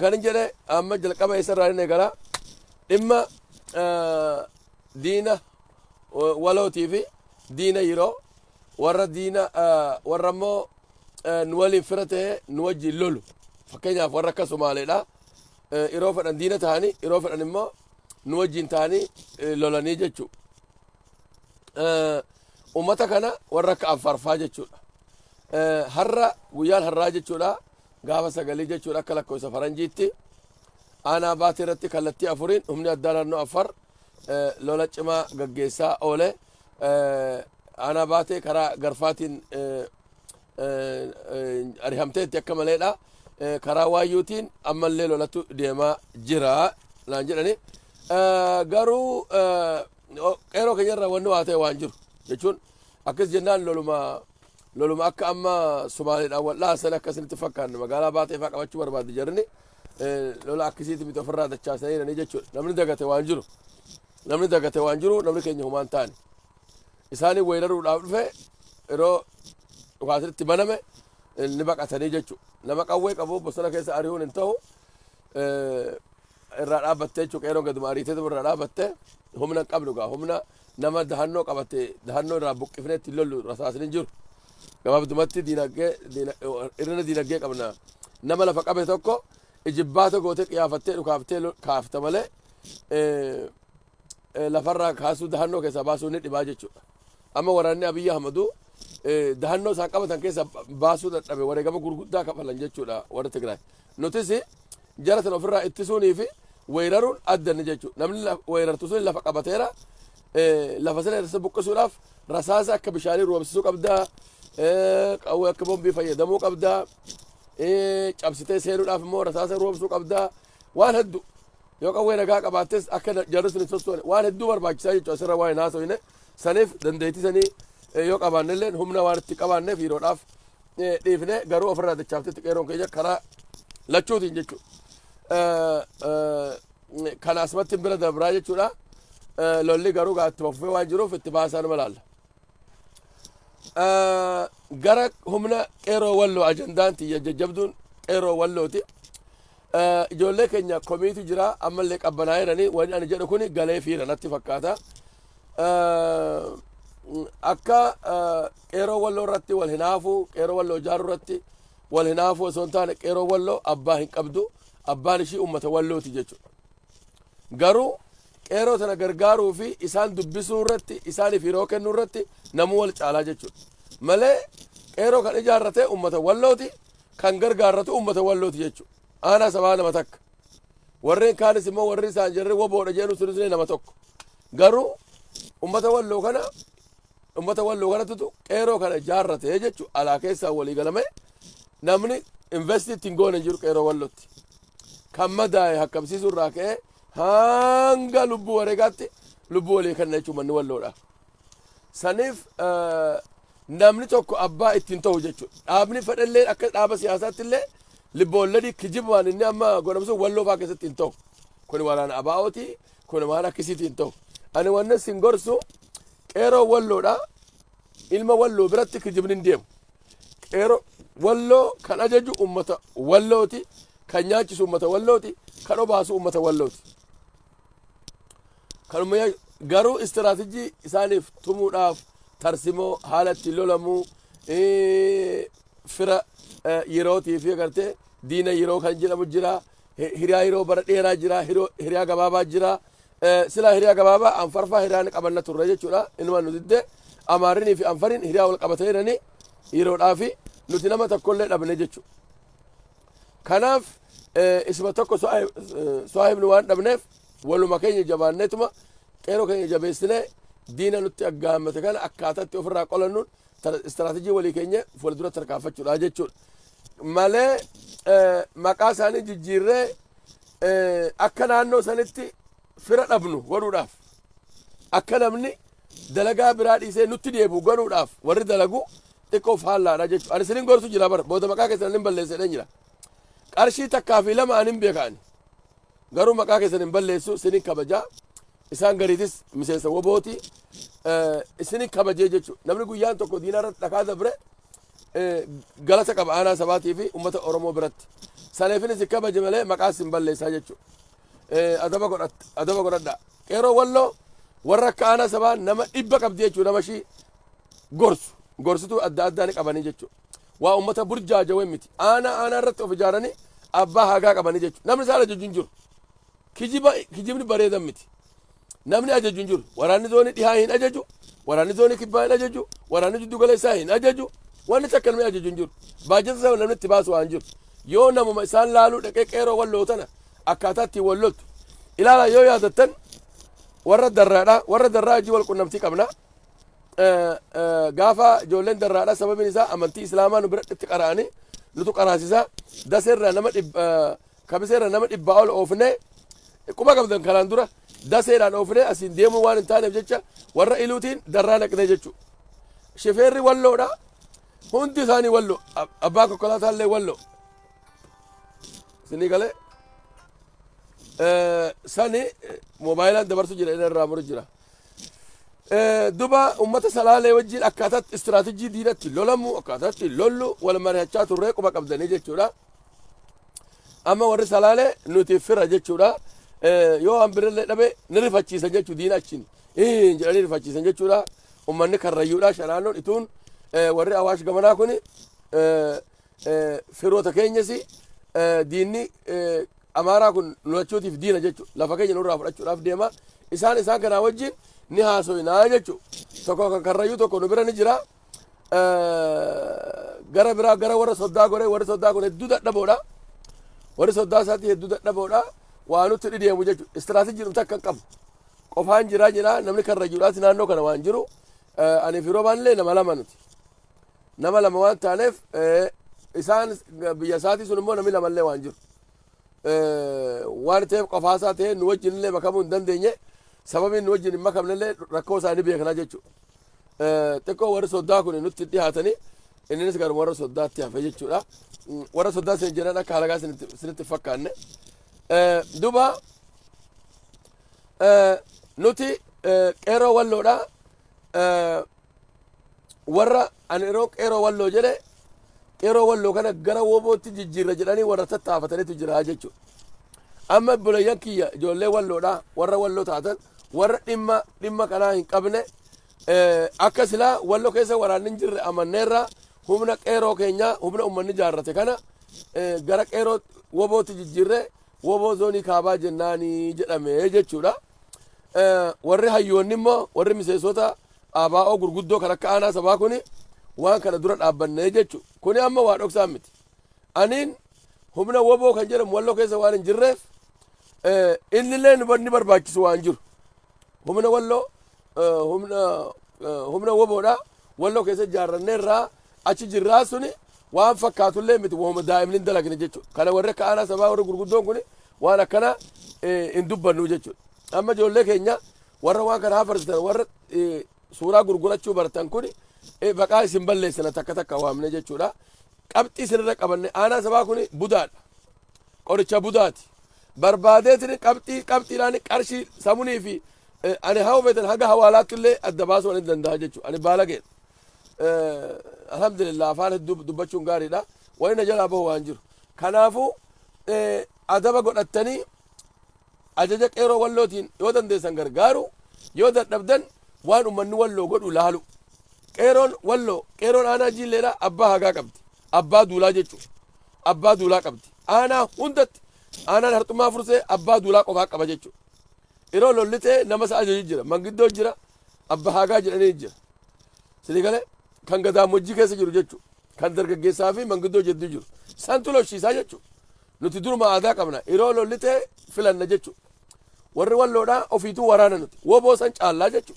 Kanin jedhe amma jalqaba isarraa hin eegala. Dhimma diina walootii fi diina yeroo warra diina warra immoo nu waliin fira ta'ee nu wajjin lolu. Fakkeenyaaf warra akka Somaaleedha. Yeroo fedhan diina ta'anii yeroo fedhan immoo nu wajjin ta'anii lolanii jechuudha. Uummata kana warra akka Affaarfaa jechuudha. Har'a guyyaan har'aa jechuudha. Gaafa sagalii jechuun akka lakkoofsa faranjiitti aanaa baatee irratti kallattii afuriin humni addaa naannoo Affaar lola cimaa gaggeessaa oole. Aanaa baatee karaa garfaatiin arihamteetti akka maleedha. Karaa waayyuutiin ammallee lolatu deemaa jira naan jedhani. Garuu qeeroo keenyarra wanni waa ta'e waan jiru jechuun akkas jennaan loluma Loluma akka amma Sumaaleedhaan wal dhaasan akka isinitti fakkaanne magaalaa baatee fa'aa qabachuu barbaaddi jarri lola akkasiiti miti ofirraa dachaasanii jedhanii jechuudha. Namni dagate waan jiru namni dagate waan jiru namni keenya humaan taane isaanii weeraruudhaaf dhufe yeroo dhukaasnitti baname ni baqatanii jechuudha. Nama qawwee qabu bosona keessa ari'uun hin ta'u. irraa dhaabatte jechuun qeeroon gaduma ariitee irraa dhaabatte humna hin qabnu gaa humna nama dahannoo qabatte dahannoo irraa buqqifnee ittiin lollu rasaasni jiru gabaabdumatti diinagdee irrina diinagdee qabna nama lafa qabe tokko ijibbaata gootee qiyaafattee dhukaaftee kaafta malee lafarraa kaasuu dahannoo keessaa baasuu ni dhibaa jechuudha. Amma waraanni Abiyyi Ahmadu dahannoo isaan qabatan keessa baasuu dadhabe wareegama gurguddaa kafalan jechuudha warri Tigraay. Nutis jara sana ofirraa ittisuunii fi weeraruun adda ni jechuudha. Namni weerartu sun lafa qabateera lafa sana irratti buqqisuudhaaf rasaasa akka bishaanii roobsisuu qabda qawwee akka bombii fayyadamuu qabda cabsitee seenuudhaaf immoo rasaasa roobsuu qabda waan hedduu Yoo qawwee nagaa qabaattes akka jarri sun hin sossoone waan hedduu barbaachisaa jechuudha asirra waa hin haasofne saniif dandeettii sanii eh, yoo qabaanne illee humna waan itti qabaanneef yeroodhaaf eh, dhiifne garuu ofirraa dachaaftetti qeeroon keenya karaa lachuutiin jechuudha. Eh, eh, Kana asumatti bira dabraa jechuudha. Eh, Lolli garuu gaa ittuma fufee waan jiruuf itti baasaan malaalla. gara humna qeeroo walloo ajandaan tiyya jajjabduun qeeroo wallooti ijoollee keenya komiitu jira ammallee qabbanaa'ee jiranii wanni ani jedhu kun galee fiira natti fakkaata akka qeeroo walloo irratti wal hinaafu qeeroo walloo ijaaruu irratti wal hinaafu osoo hin taane qeeroo walloo abbaa hin qabdu abbaan ishii ummata wallooti jechuudha Garuu qeeroo tana gargaaruu fi isaan dubbisuu irratti isaaniif yeroo kennuu irratti namuu wal caalaa jechuudha. Malee qeeroo kan ijaarrate uummata wallooti kan gargaarratu uummata wallooti jechuudha. Aanaa sabaa nama takka. Warreen kaanis immoo warri isaan jarri waboodha jedhu sunis nama tokko. Garuu uummata walloo kana uummata walloo kanattu qeeroo kana ijaarrate jechuudha. Alaa keessaa walii galamee namni investii ittiin goone hin jiru qeeroo wallootti. kan madaa'e hakkamsiisuu irraa ka'ee hanga lubbuu wareegaatti lubbuu walii kenna jechuun manni walloodha. Saniif eh, namni tokko abbaa ittiin ta'u jechuudha. Dhaabni fedhallee akka dhaaba siyaasaatti illee libboolladii kijibaan inni amma godhamsu walloo fa'aa keessatti hin ta'u. Kun waraana abaa'ooti, kun waan akkasiitii hin ta'u. Ani wanni sin gorsu qeeroo walloodha. Ilma walloo biratti kijibni hin deemu. Qeeroo Walloo kan ajaju uummata Wallooti, kan nyaachisu uummata Wallooti, kan obaasu uummata Wallooti. Kanuma yaa- garuu istiraatijii isaaniif tumuudhaaf tarsimoo haala itti lolamuu eh, fira eh, yerootii fi agartee diina yeroo kan jedhamu jira Hiriyaa hiroo bara dheeraa jira, hiriyaa gabaabaa jira. Silaa hiriyaa gabaabaa anfarfaa hiriyaa ni qabanna turre jechuudha. Inumaan nu didde Amaarrinii fi Anfariin hiriyaa wal qabatee jirani yeroodhaa fi nuti nama tokkollee dhabne jechuudha. Kanaaf isuma tokko soahibni waan dhabneef waluma keenya jabaanneetuma qeeroo keenya jabeessinee diina nutti aggaammate kana akkaataatti ofirraa qolannuun istiraatejii walii keenya fuuldura tarkaanfachuudha jechuudha. malee maqaa isaanii jijjiirree akka naannoo sanitti fira dhabnu godhuudhaaf akka namni dalagaa biraa dhiisee nutti deebi'u godhuudhaaf warri dalagu xiqqoo faallaadha jechuudha. Ani sinin gorsu jira bara booda maqaa keessan hin balleessedhan jira. Qarshii takkaa fi lama ani hin beekaani. Garuu maqaa keessan hin balleessu sinin kabajaa isaan gariitis miseensa wobooti isinin kabajee jechuudha. Namni guyyaan tokko diinarra dhakaa dabre galata qaba aanaa sabaatii fi uummata Oromoo biratti. Saleefinis kabaje malee maqaa sin balleessaa jechuudha. Adaba godhatta adaba godhadha. Qeeroo walloo warra akka aanaa sabaa nama dhibba qabdi jechuudha nama ishii gorsu gorsituu adda addaa ni qabanii jechuudha. Waa uummata burjaajawee miti. Aanaa aanaa irratti of ijaaranii abbaa hagaa qabanii jechuudha. Namni isaan ajaju hin jiru. Kijiba kijibni bareedan miti. Namni ajaju hin jiru. Waraanni zoonii dhihaa hin ajaju. Waraanni zoonii kibbaa hin ajaju. Waraanni jiddu galeessaa hin ajaju. Wanni takka namni ajaju hin jiru. Baajata sana namni itti baasu waan jiru. Yoo namuma isaan laaluu dhaqee qeeroo walloo tana akkaataa ittiin wal loltu. Ilaala yoo yaadattan warra darraadha. Warra darraa hojii wal qunnamtii qabna. Eh, eh, Gaafa ijoolleen darraadha sababiin isaa amantii islaamaa nu biratti qara'anii nutu qaraasisaa. Daseerraa nama dhib- eh, Kamiseerra nama dhibbaa ol oofnee quba qabdan kanaan dura daseedhaan oofnee asiin deemuu waan hin taaneef jecha warra iluutiin darraa naqnee jechuudha. Shifeerri walloodha. Hundi isaanii walloo. Abbaan konkolaataa illee walloo. Isinii galee sani moobaayilaan dabarsu jira inni irraa muru jira. Duba uummata salaalee wajjin akkaataatti istiraatejii diinatti lolamu akkaataatti lollu wal mari'achaa turree quba qabdanii jechuudha. amma warri salaalee nuti fira jechuudha yoo waan birallee dhabe ni rifachiisa jechuu diina achiin jedhanii rifachiisan jechuudha ummanni karrayyuudha shanaannoon ituun warri awaash gamanaa kun firoota keenyas diinni amaaraa kun nulachuutiif diina jechuudha lafa keenya nurraa fudhachuudhaaf deema isaan isaan kanaa wajjin ni haasoyinaa jechuudha tokko kan karrayyuu tokko nu bira ni jira. gara biraa gara warra soddaa goree warri soddaa kun hedduu dadhaboodha. Warri soddaa isaatii hedduu dadhaboodha. Waa nutti dhideemu jechuudha. Istiraatejii dhumta akka qabu. Qofaan jiraa jira namni karra jiruudhaati naannoo kana waan jiru. Ani fi roobaan illee nama lama nuti. Nama lama waan taaneef isaan biyya isaatii sun immoo namni lama illee waan jiru. waan ta'eef qofaa isaa ta'ee nu wajjin illee makamuu hin dandeenye sababiin nu wajjin hin makamne illee rakkoo isaa ni beekna jechuudha. Xiqqoo warri soddaa kun nutti dhihaatanii innis garuu warra soddaatti hafe jechuudha. Warra soddaa isin jedhan akka halagaa isinitti fakkaanne. Duba nuti qeerroo walloodha warra Ani yeroo qeeroo walloo jedhe qeeroo walloo kana gara woobootti jijjiirra jedhanii warra tattaafatanitu jira jechuudha. Amma obboleeyyan kiyya ijoollee walloodha warra walloo taatan warra dhimma dhimma kanaa hin qabne eh, akka silaa walloo keessa waraanni hin jirre amanneerra humna qeeroo keenya humna uummanni jaarrate kana eh, gara qeeroo wobootti jijjiirre woboo zoonii kaabaa jennaanii jedhame jechuudha. Eh, warri hayyoonni immoo warri miseensota ABO gurguddoo kan akka aanaa sabaa kuni waan kana dura dhaabbannee jechu kuni amma waa dhoksaan miti. Aniin humna woboo kan jedhamu walloo keessa waan hin jirreef innillee ni barbaachisu waan jiru. Humna walloo humna woboodha walloo keessa ijaarranneerraa achi jirraa suni waan fakkaatullee miti wahuma daa'imni hin dalagne jechuudha. Kana warri akka aanaa sabaa warri gurguddoon kuni waan akkana hin dubbannu jechuudha. Amma ijoollee keenya warra waan kana hafarsitan warra suuraa gurgurachuu baratan kun baqaa isin balleessina takka takka waamne jechuudha. Qabxii isinirra qabanne aanaa sabaa kun budaadha. Qoricha budaati. Barbaadeetiin qabxii qabxiidhaan qarshii samunii fi ani haa hubatan haga hawaalaatti illee adda baasuu ani danda'a jechuudha. Ani baalageedha. Alhamdulillah afaan hedduu dubbachuun gaariidha. Wani na jalaa bahu waan jiru. Kanaafuu adaba godhattanii Ajaja Qeeroo Wallootiin yoo dandeessan gargaaruu, yoo dadhabdan waan ummanni Walloo godhu laaluu. Qeeroon Walloo, Qeeroon Aanaa Jiilleedhaa abbaa hagaa qabdi. Abbaa duulaa jechuudha. Abbaa duulaa qabdi. Aanaa hundatti Aanaan Harxummaa Fursee abbaa duulaa qofaa qaba jechuudha. Yeroo lolli ta'e nama isa ajaju jira. Mangiddoo jira, abbaa hagaa jedhanii jira. Sini galee kan gadaamojjii keessa jiru jechuudha. Kan dargaggeessaa fi mangiddoo jedduu jiru. Santu lolchiisaa jechuudha. Nuti duruma aadaa qabna. Yeroo lolli ta'e filanna jechu. Warri walloodhaa ofiituu waraana nuti. Woboo san caallaa jechu.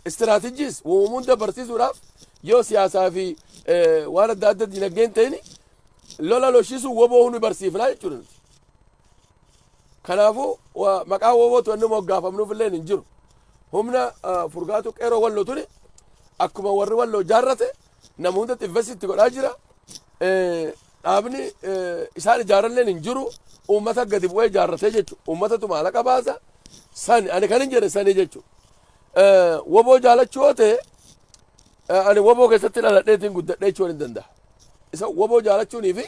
Istiraatijiis uumunda barsiisuudhaaf yoo siyaasaa fi waan adda adda dinagdeen ta'ini lola lolchiisuu woboo hundi barsiifnaa jechuudha nuti. Kanaafuu maqaa wobootu inni moggaafamnuuf illee hin jiru. Humna furgaatu qeeroo walloo tuni akkuma warri walloo jaarrate Nama hundatti invest itti godhaa jira. Dhaabni isaan ijaaralleen hin jiru. Uummata gadi bu'ee ijaarratee jechuudha. Uummatatu maallaqa baasa. Sani ani kan hin jedhe sani jechuudha. Woboo jaalachuu yoo ta'e ani woboo keessatti dhaladheetiin guddadhee jechuun hin danda'a. Isa woboo jaalachuunii fi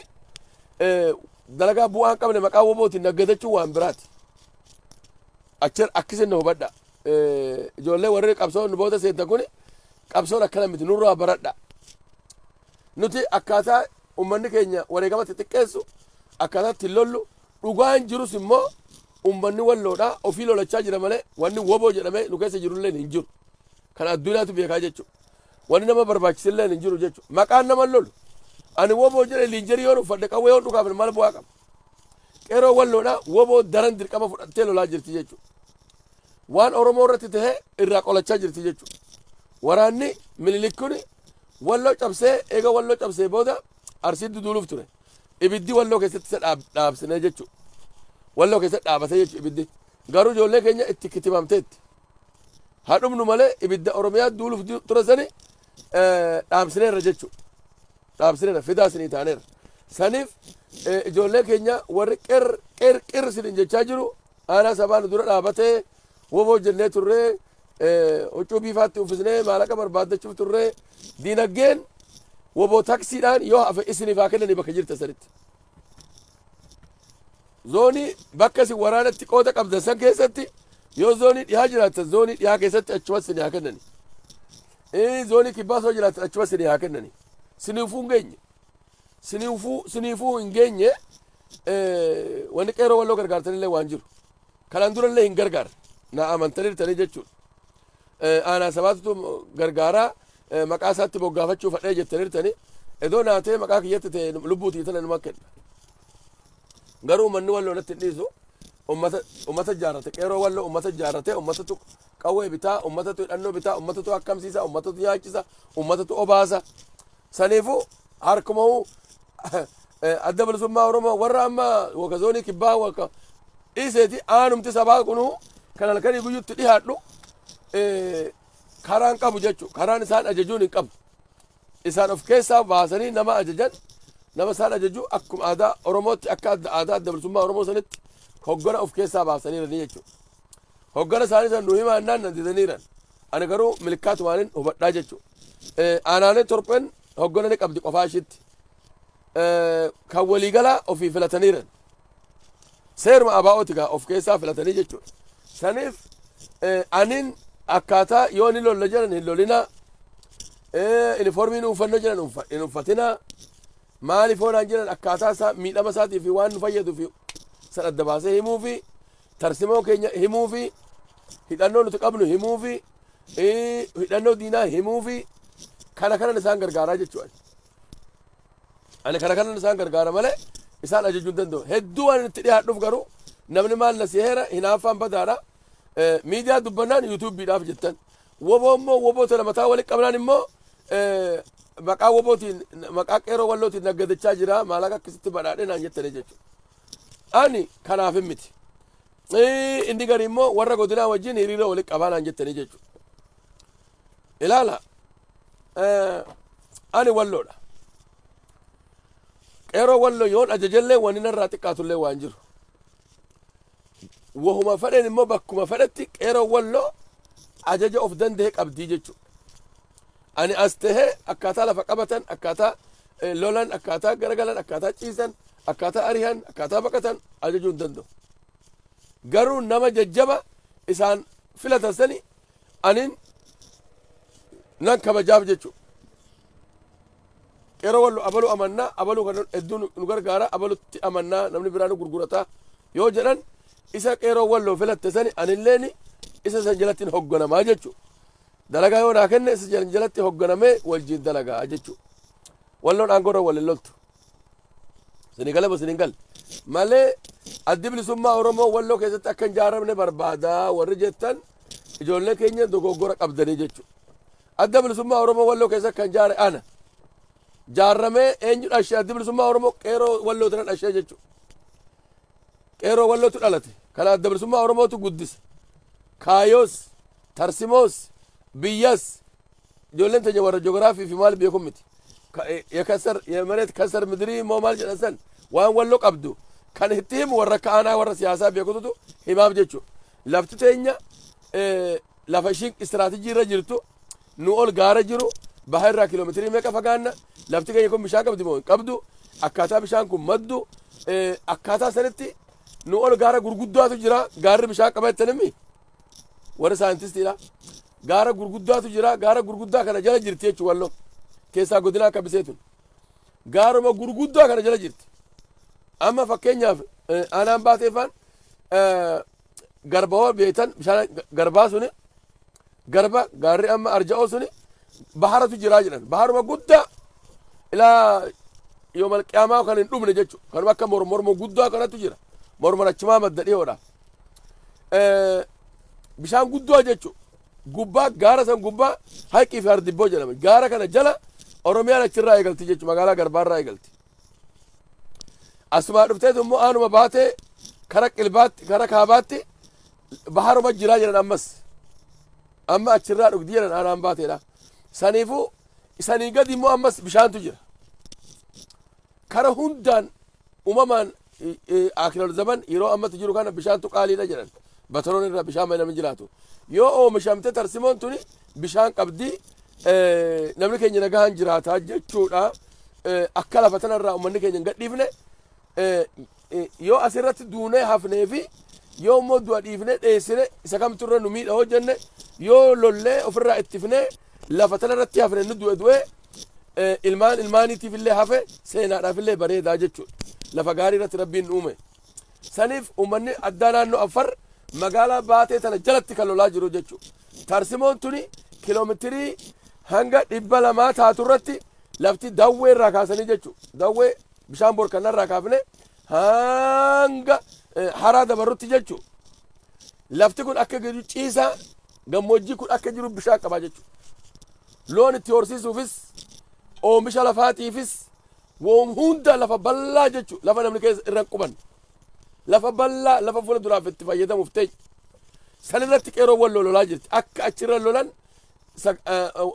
dalagaa bu'aa hin qabne maqaa wobootiin naggadachuu waan biraati. Achi akkasiin na hubadhaa. ijoollee warri qabsoo nu booda seentan kun qabsoon akkana miti nurraa baradha. Nuti akkaataa uummanni keenya wareegamatti xiqqeessu akkaataa ittiin lollu dhugaan jirus immoo uummanni walloodhaa ofii lolachaa jira malee wanni woboo jedhamee nu keessa jirullee hin jiru. Kan addunyaatu beekaa jechuudha. Wanni nama barbaachisillee hin jiru jechuudha. Maqaan nama lolu. Ani woboo jedhe liinjerii yoon uffadhe qawwee yoon dhukaafne maal bu'aa qaba? Qeeroo Walloodha wbo daran dirqama fudhattee lolaa jirti jechuudha. Waan Oromoo irratti tahe irraa qolachaa jirti jechuudha. Waraanni Minilik kun Walloo cabsee eega Walloo cabsee booda Arsii duduuluuf ture. Ibiddi Walloo keessatti isa dhaab- dhaabsine jechuudha. Walloo keessatti dhaabate jechuudha ibiddi. Garuu ijoollee keenya itti kitibamteetti. Haa dhumnu malee ibidda Oromiyaa duuluuf du- ture sani eh, dhaamsineerra jechuudha. dhaabsineerra fidaa sinii taaneerra saniif ijoollee keenya warri qir qir qir sinin jechaa jiru aanaa sabaa nu dura dhaabatee woboo jennee turree huccuu biifaatti uffisnee maallaqa barbaaddachuuf turree diinagdeen woboo taksiidhaan yoo hafe isiniif haa kennanii bakka jirta sanitti. Zoonii bakka isin waraanatti qooda qabdan san keessatti yoo zoonii dhihaa jiraattan zoonii dhihaa keessatti achumas isin haa kennanii. Ee zoonii kibbaa soo jiraatan achuma sinii haa kennanii. Siniifuu hin geenye. Siniifuu siniifuu hin geenye eh, wanni qeeroo walloo gargaartanillee waan jiru. Kanaan durallee hin gargaarre. Na amantaniirtanii jechuudha. Eh, aanaa sabaatutu gargaaraa eh, maqaa isaatti moggaafachuu fadhee jettaniirtanii edoo naatee maqaa kiyyatti ta'e lubbuutii tana numa kenna. Garuu uummanni walloo natti hin dhiisu. Uummata uummata jaarrate qeeroo walloo uummata jaarrate uummatatu Qawwee bitaa, ummatatu hidhannoo bitaa, ummatatu akkamsiisa, ummatatu nyaachisa, ummatatu obaasa. Saniifuu harkumahuu adda bilisummaa Oromoo warra amma waka zoonii kibbaa waka dhiiseeti aanumti sabaa kunuu kan halkanii guyyutti dhihaadhu karaan qabu jechuudha. Karaan isaan ajajuun hin qabu. Isaan of keessaa baasanii nama ajajan nama isaan ajaju akkuma aadaa Oromootti akka adda aadaa adda bilisummaa Oromoo sanitti hoggana of keessaa baasanii jiranii jechuudha. Hoggana isaanii sana nu himaa jennaan na didaniiran. Ani garuu milkaa'umaan hubadhaa jechuudha. Aanaalee torban hoggana ni qabdi qofaa ishiitti. Kan waliigalaa ofii filataniiran. Seeruma abaa'ooti gaa of keessaa filatanii jechuudha. Saniif aniin akkaataa yoo ni lolla jedhan hin lolinaa. Inifoormii nu uffanna jedhan hin uffatinaa. Maaliif hoonaan jedhan akkaataa isaa miidhama isaatii fi waan nu fayyadu fi san adda baasee himuu fi Tarsimoo keenya himuufi, hidhannoo nuti qabnu himuufi, hidhannoo diinaa himuufi kana kanan isaan gargaaraa jechuudha. Ani kana kanan isaan gargaara malee isaan ajajuu hin danda'u. Hedduu waan itti dhiyaadhuuf garuu namni maal na siheera hinaaffaan badaadha. Miidiyaa dubbannaan yuutuubiidhaaf jettan. Woboo immoo woboo tana mataa walitti qabnaan immoo maqaa wobootiin maqaa qeeroo wallootiin naggadachaa jira maalaqa akkasitti badhaadhe naan jettanii jechuudha. Ani kanaafin miti. Ee, Inni gari immoo warra godinaa wajjin hiriira waliin qabaa naan jettanii jechuudha. Ilaala. eh, Ani walloodha. Qeeroo walloo yoon ajajellee wanni narraa xiqqaatullee waan jiru. Wahuma fedheen immoo bakkuma fedhetti qeeroo walloo ajaja of danda'e qabdii jechuudha. Ani as tahee akkaataa lafa qabatan, akkaataa lolan, akkaataa garagalan, akkaataa ciisan, akkaataa arihan, akkaataa baqatan ajajuu hin danda'u. Garuu nama jajjaba isaan filatan sani anin nan kabajaaf jechuudha. Qeeroo wallu abaluu amannaa, abaluu kan hedduu nu gargaara, abalutti amannaa namni biraa nu gurgurata yoo jedhan isa qeeroo wallu filatte sani anilleen isa san jalatti hin hogganamaa jechuudha. Dalagaa yoo naa kenne isa jalatti hogganamee wajjin dalagaa jechuudha. Walloon aangoorra wal hin loltu. Isinii galee isin hin galle. Malee addi bilisummaa Oromoo walloo keessatti akka hin jaaramne barbaada warri jettan ijoollee keenya dogoggora qabdanii jechuudha. Adda bilisummaa Oromoo walloo keessa kan jaare ana. Jaaramee eenyu dhashee addi bilisummaa Oromoo qeeroo walloo tana dhashee jechuudha. Qeeroo wallootu dhalate. Kana adda bilisummaa Oromootu guddisa. Kaayoos Tarsimoos, biyyas, ijoolleen teenya warra joogiraafii fi maal beeku miti. Ka- ya kasar ya mareet kasar midirii immoo maal jedhan san waan wallo qabdu kan itti himu warra akka aanaa warra siyaasaa beekututu himaaf jechu lafti teenya eh, lafa ishiin istiraatijii irra jirtu nu ol gaara jiru baha irraa kiiloomeetirii meeqa fagaanna lafti keenya kun bishaan qabdi moo hin qabdu akkaataa bishaan kun maddu eh, akkaataa sanitti nu ol gaara gurguddaatu jira gaarri bishaan qaba jettanimmi Warri saayintistiidha. Gaara gurguddaatu jira. Gaara gurguddaa kana jala jirti jechuun walloo. Keessaa godinaa akka bisee tun. Gaaruma gurguddaa kana jala jirti. Amma fakkeenyaaf eh, aanaan baateeffaan eh, garba hoo beektan bishaan garbaa suni garba gaarri amma arja'oo suni baharatu jiraa jedhan. Baharuma guddaa ilaa yoomal qiyaamaa kan hin dhumne jechuudha. Kanuma akka mormormoo guddaa kanatu jira. Mormon achumaa madda dhiyoodha. eh, bishaan guddoo jechuun gubbaa gaara san gubbaa haqii fi hardibboo jedhama. Gaara kana jala Oromiyaan achirraa eegalti jechuudha magaalaa Garbaarraa eegalti. Asumaa dhufteet immoo aanuma baatee kara qilbaatti kara kaabaatti baharuma jiraa jedhan ammas. Amma achirraa dhugdi jedhan aanaan baateedha. Saniifuu sanii gadi immoo ammas bishaantu jira. Kara hundaan umamaan Aakiral Zaman yeroo ammatti jiru kana bishaantu qaaliidha jedhan. Bataroon irraa bishaan malee namni jiraatu. Yoo oomishamte tarsimoon tuni bishaan qabdi namni keenya nagahaan jiraata jechuudha. Akka lafa tanarraa uummanni keenya hin gadhiifne Yoo as irratti duunee hafnee fi yoo immoo du'a dhiifnee dheessine isa kamtu irra nu miidha hoo jenne yoo lollee ofirraa ittifnee lafa tana irratti hafne nu du'e du'e eh, ilmaan ilmaaniitiif illee hafe seenaadhaaf illee bareedaa jechuudha. Lafa gaarii irratti rabbiin nu uume. Saniif uummanni addaa naannoo Afar magaalaa baatee tana jalatti kan lolaa jiru jechuudha. Tarsimoon tuni kiloometirii hanga dhibba lamaa taatu irratti lafti dawwee irraa kaasanii jechuudha. Dawwee bishaan borkannarraa kaafne hanga eh, haraa dabarrutti jechuudha. Lafti kun akka jiru ciisaa gammoojjii kun akka jiru bishaan qabaa jechuudha. Loon itti horsiisuufis oomisha lafaatiifis woom hunda lafa bal'aa jechuudha. Lafa namni keessa irra hin qubanne. Lafa bal'aa lafa fuula duraaf itti fayyadamuuf ta'e. San irratti qeeroowwan lololaa jirti. Akka achirra lolan Isa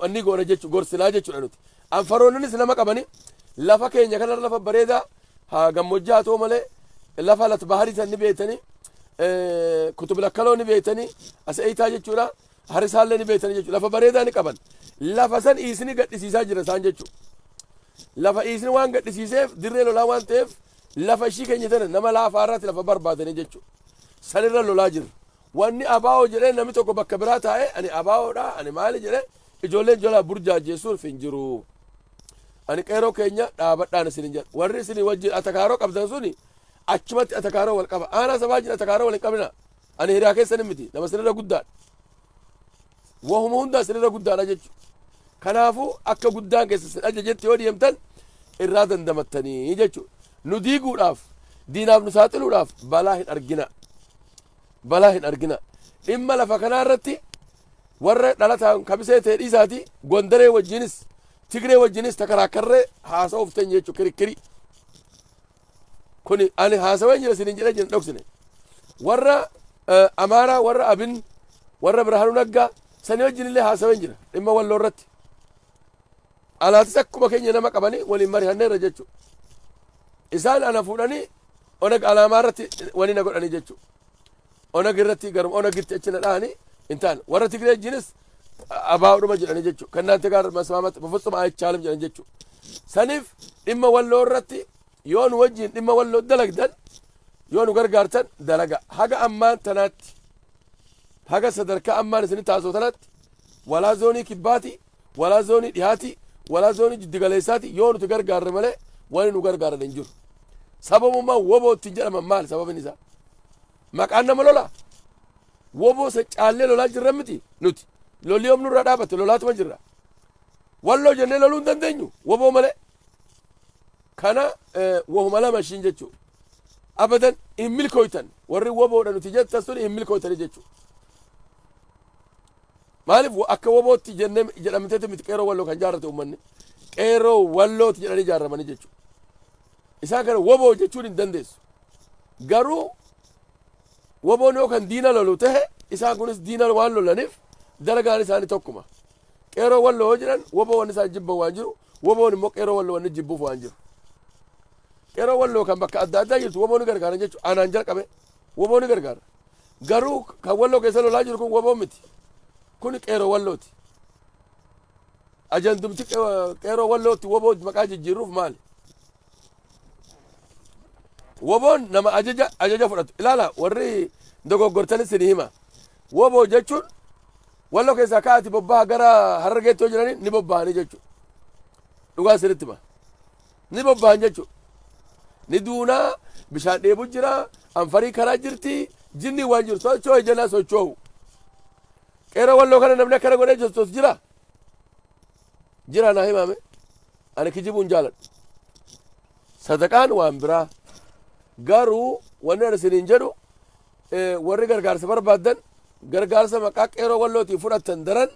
wanni goona jechu gorsinaa jechuudha nuti. Anfaroonnis nama qabani lafa keenya kana lafa bareedaa haa gammoojjii haa ta'u malee lafa lat baharii san ni beektanii kutub lakkaloo ni beektanii as eeytaa jechuudha harisaallee ni beektanii jechuudha lafa bareedaa ni qaban lafa san iisni gadhisiisaa jira isaan jechuudha. Lafa iisni waan gadhisiiseef dirree lolaa waan ta'eef lafa ishii keenya tana nama laafaa irratti lafa barbaadanii jechuudha. Sanirra lolaa jirra. Wanni ABO jedhee nami tokko bakka biraa taa'ee ani ABO dha, ani maali jedhee ijoolleen jalaa burjaajjeessuuf hin jiru. Ani qeeroo keenya dhaabadhaan isin hin jedha. Warri isin wajjin atakaaroo qabdan suni achumatti atakaaroo wal qaba. Aanaa sabaa wajjin atakaaroo wal hin qabina. Ani hiriyaa keessan miti. Nama isinirra guddaadha. Wahuma hundaa isinirra guddaadha jechuudha. Kanaafuu akka guddaan keessa isin ajajetti yoo deemtan irraa dandamattanii jechuudha. Nu diiguudhaaf, diinaaf nu saaxiluudhaaf balaa hin argina. balaa hin arginaa. Dhimma lafa kanaa irratti warra dhalataan kamisee ta'e dhiisaatii Gondaree wajjinis Tigree wajjinis takaraakkarree haasa'uuf teenye jechuudha kirikkirii. Kuni ani haasawee jira isin hin jedhee jira dhoksine. Warra eh, Amaaraa, warra Abin, warra Birhaanuu Naggaa sanii wajjin illee haasawee jira dhimma walloo irratti. Alaatis akkuma keenya nama qabanii waliin marihanneerra jechu. Isaan ana fuudhanii onag alaamaa irratti wani na godhanii jechu. Onag irratti garuma onagitti achi na dhahanii hin taane. Warra Tigree jinis abaa'uudhuma jedhanii jechu. Kan naante gaara masmaamatti bufutsuma ayichaalam jedhan jechu. Saniif dhimma walloo irratti yoo nu wajjin dhimma walloo dalagdan yoo nu gargaartan dalaga haga ammaan tanaatti haga sadarkaa ammaan isin taasoo tanaatti walaa zoonii kibbaati Walaa Zoonii Dhihaati, Walaa Zoonii Jiddugaleessaati yoo nuti gargaarre malee wani nu gargaaran hin jiru. Sababummaan woboo ittiin jedhaman maali sababin isaa? Maqaan nama lolaa? Woboo sa caallee lolaa jirra miti nuti. Lolli yoom nurraa dhaabate lolaatuma jirra. Walloo jennee loluu hin dandeenyu woboo malee. Kana wahuma lama ishiin jechuudha. Abadan hin milkooytan warri woboodha nuti jettas tuni hin milkooytani jechuudha. Maaliif akka wobootti jennee jedhamteeti miti qeerroo walloo kan jaarrate uummanni. Qeerroo wallooti jedhanii jaarramanii jechuudha. Isaan kana woboo jechuun hin dandeessu. Garuu woboon yoo kan diina lolu ta'e isaan kunis diina waan lolaniif dalagaan isaanii tokkuma. Qeerroo walloo yoo jedhan woboo wanni isaan jibban waan jiru woboon immoo qeerroo walloo wanni jibbuuf waan jiru. Qeerroo walloo kan bakka adda addaa jirtu woboon gargaaran jechuudha. Anaan jalqabe. Wbo ni gargaara. Garuu kan Walloo keessa lolaa jiru kun wbo miti. Kuni qeeroo Wallooti. Ajandumti qeeroo Wallootti wbo maqaa jijjiirruuf maali? Wboon nama ajaja ajaja fudhatu. Ilaala warri dogoggortanis ni hima. Wbo jechuun Walloo keessaa ka'aati bobbaha gara Harargeetti yoo jedhani ni bobbahanii jechuudha. Dhugaa isinitti hima. Ni bobba'an jechuudha. Ni duuna, bishaan dheebu jira, anfarii karaa jirti, jinni waan jiru sochoo'e jennaan sochoo'u. Qeerroo walloo kana namni akkana godhee sochoosu jira. Jira naa himaame. Ani kijibuun jaaladha. Sadaqaan waan biraa. Garuu wanni ani isiniin jedhu Warri gargaarsa barbaaddan gargaarsa maqaa qeeroo wallootiin fudhattan daran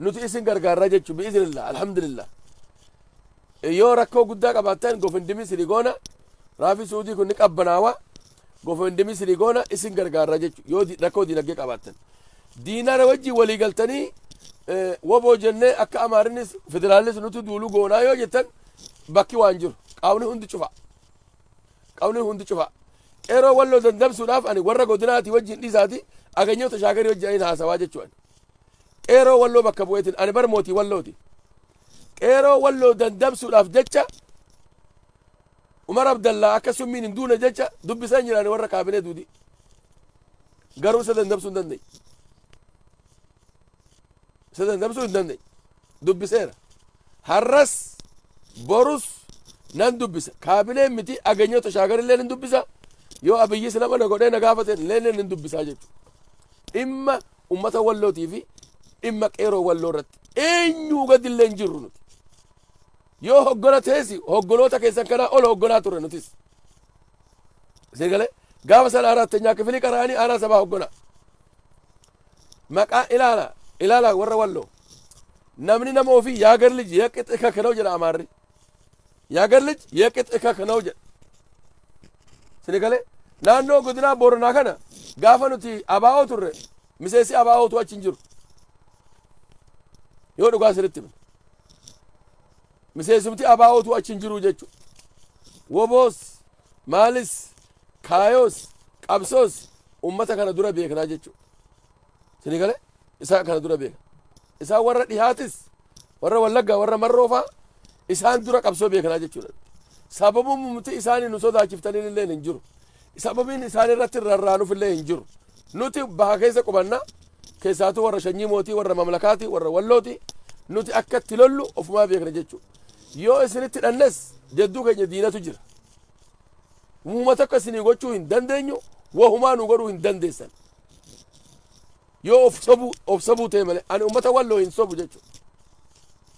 nuti isin gargaarraa jechu bi'izinillah alhamdulillah yoo rakkoo guddaa qabaattan gofindimii sini goona raafi suudii kun ni qabbanaawa gofindimii sini goona isin gargaarraa jechu yoo rakkoo diinagdee qabaattan diinaana wajjin walii galtanii woboo jennee akka amaarinis federaalis nuti duulu goonaa yoo jettan bakki waan jiru qaawni hundi cufa Qawliin hundi cufa. Qeeroo walloo dandamsuudhaaf ani warra godinaatii wajjin dhiisaati aganyoota shaakarii wajjin ani haasawaa jechuun. Qeeroo walloo bakka bu'eetiin ani bar mootii wallooti. Qeeroo walloo dandamsuudhaaf jecha Umar Abdallaa akka summiin hin duune jecha dubbisaan jiraani warra kaabinee duudii. Garuu isa dandamsuu hin dandeenye. isa dandamsuu hin dandeenye dubbiseera har'as borus nan dubbisa kaabileen miti ageenyoo tashaagar illee nan dubbisa yoo abiyyi sila mana godhee na gaafate illee nan dubbisaa jechuudha dhimma ummata wallootii fi dhimma qeeroo walloo irratti eenyuu gadi illee hin jirru nuti yoo hoggana teessi hoggoloota keessan kanaa ol hogganaa turre nutis sirgalee gaafa sana arattenyaa kifilii qaraanii aanaa sabaa hogganaa Maqaa ilaala ilaala warra walloo. Namni nama ofii yaa gar lij yaa qixxi kaka na'u jedha amaarri. Yaa gar lij yaa qixxi kaka na'u jedha. Sini galee naannoo godinaa Booranaa kana gaafa nuti abaa'oo turre miseensi abaa'ootu achi hin jiru. Yoo dhugaa sirritti himne. Miseensumti abo utuu achi hin jiruu jechu. Woboos, maalis, kaayoos, qabsoos ummata kana dura beeknaa jechu. Sini gale isaan kana dura beekna. Isaan warra dhihaatis warra wallaggaa warra marroofaa isaan dura qabsoo beeknaa jechuudha. Sababumti isaanii nu sodaachiftaniin illee hin jiru. Sababiin isaan irratti rarraanuf illee hin jiru. Nuti baha keessa qubanna Keessaatuu warra shanyii mootii warra mamlakaati warra wallooti nuti akka itti lollu ofumaa beekna jechuudha. Yoo isinitti dhannes jadduu keenya diinatu jira. Muuma tokko isinii gochuu hin dandeenyu wahumaa nu godhuu hin dandeessan. Yoo of sobuu of sobuu ta'e malee ani uummata walloo hin sobu jechuudha.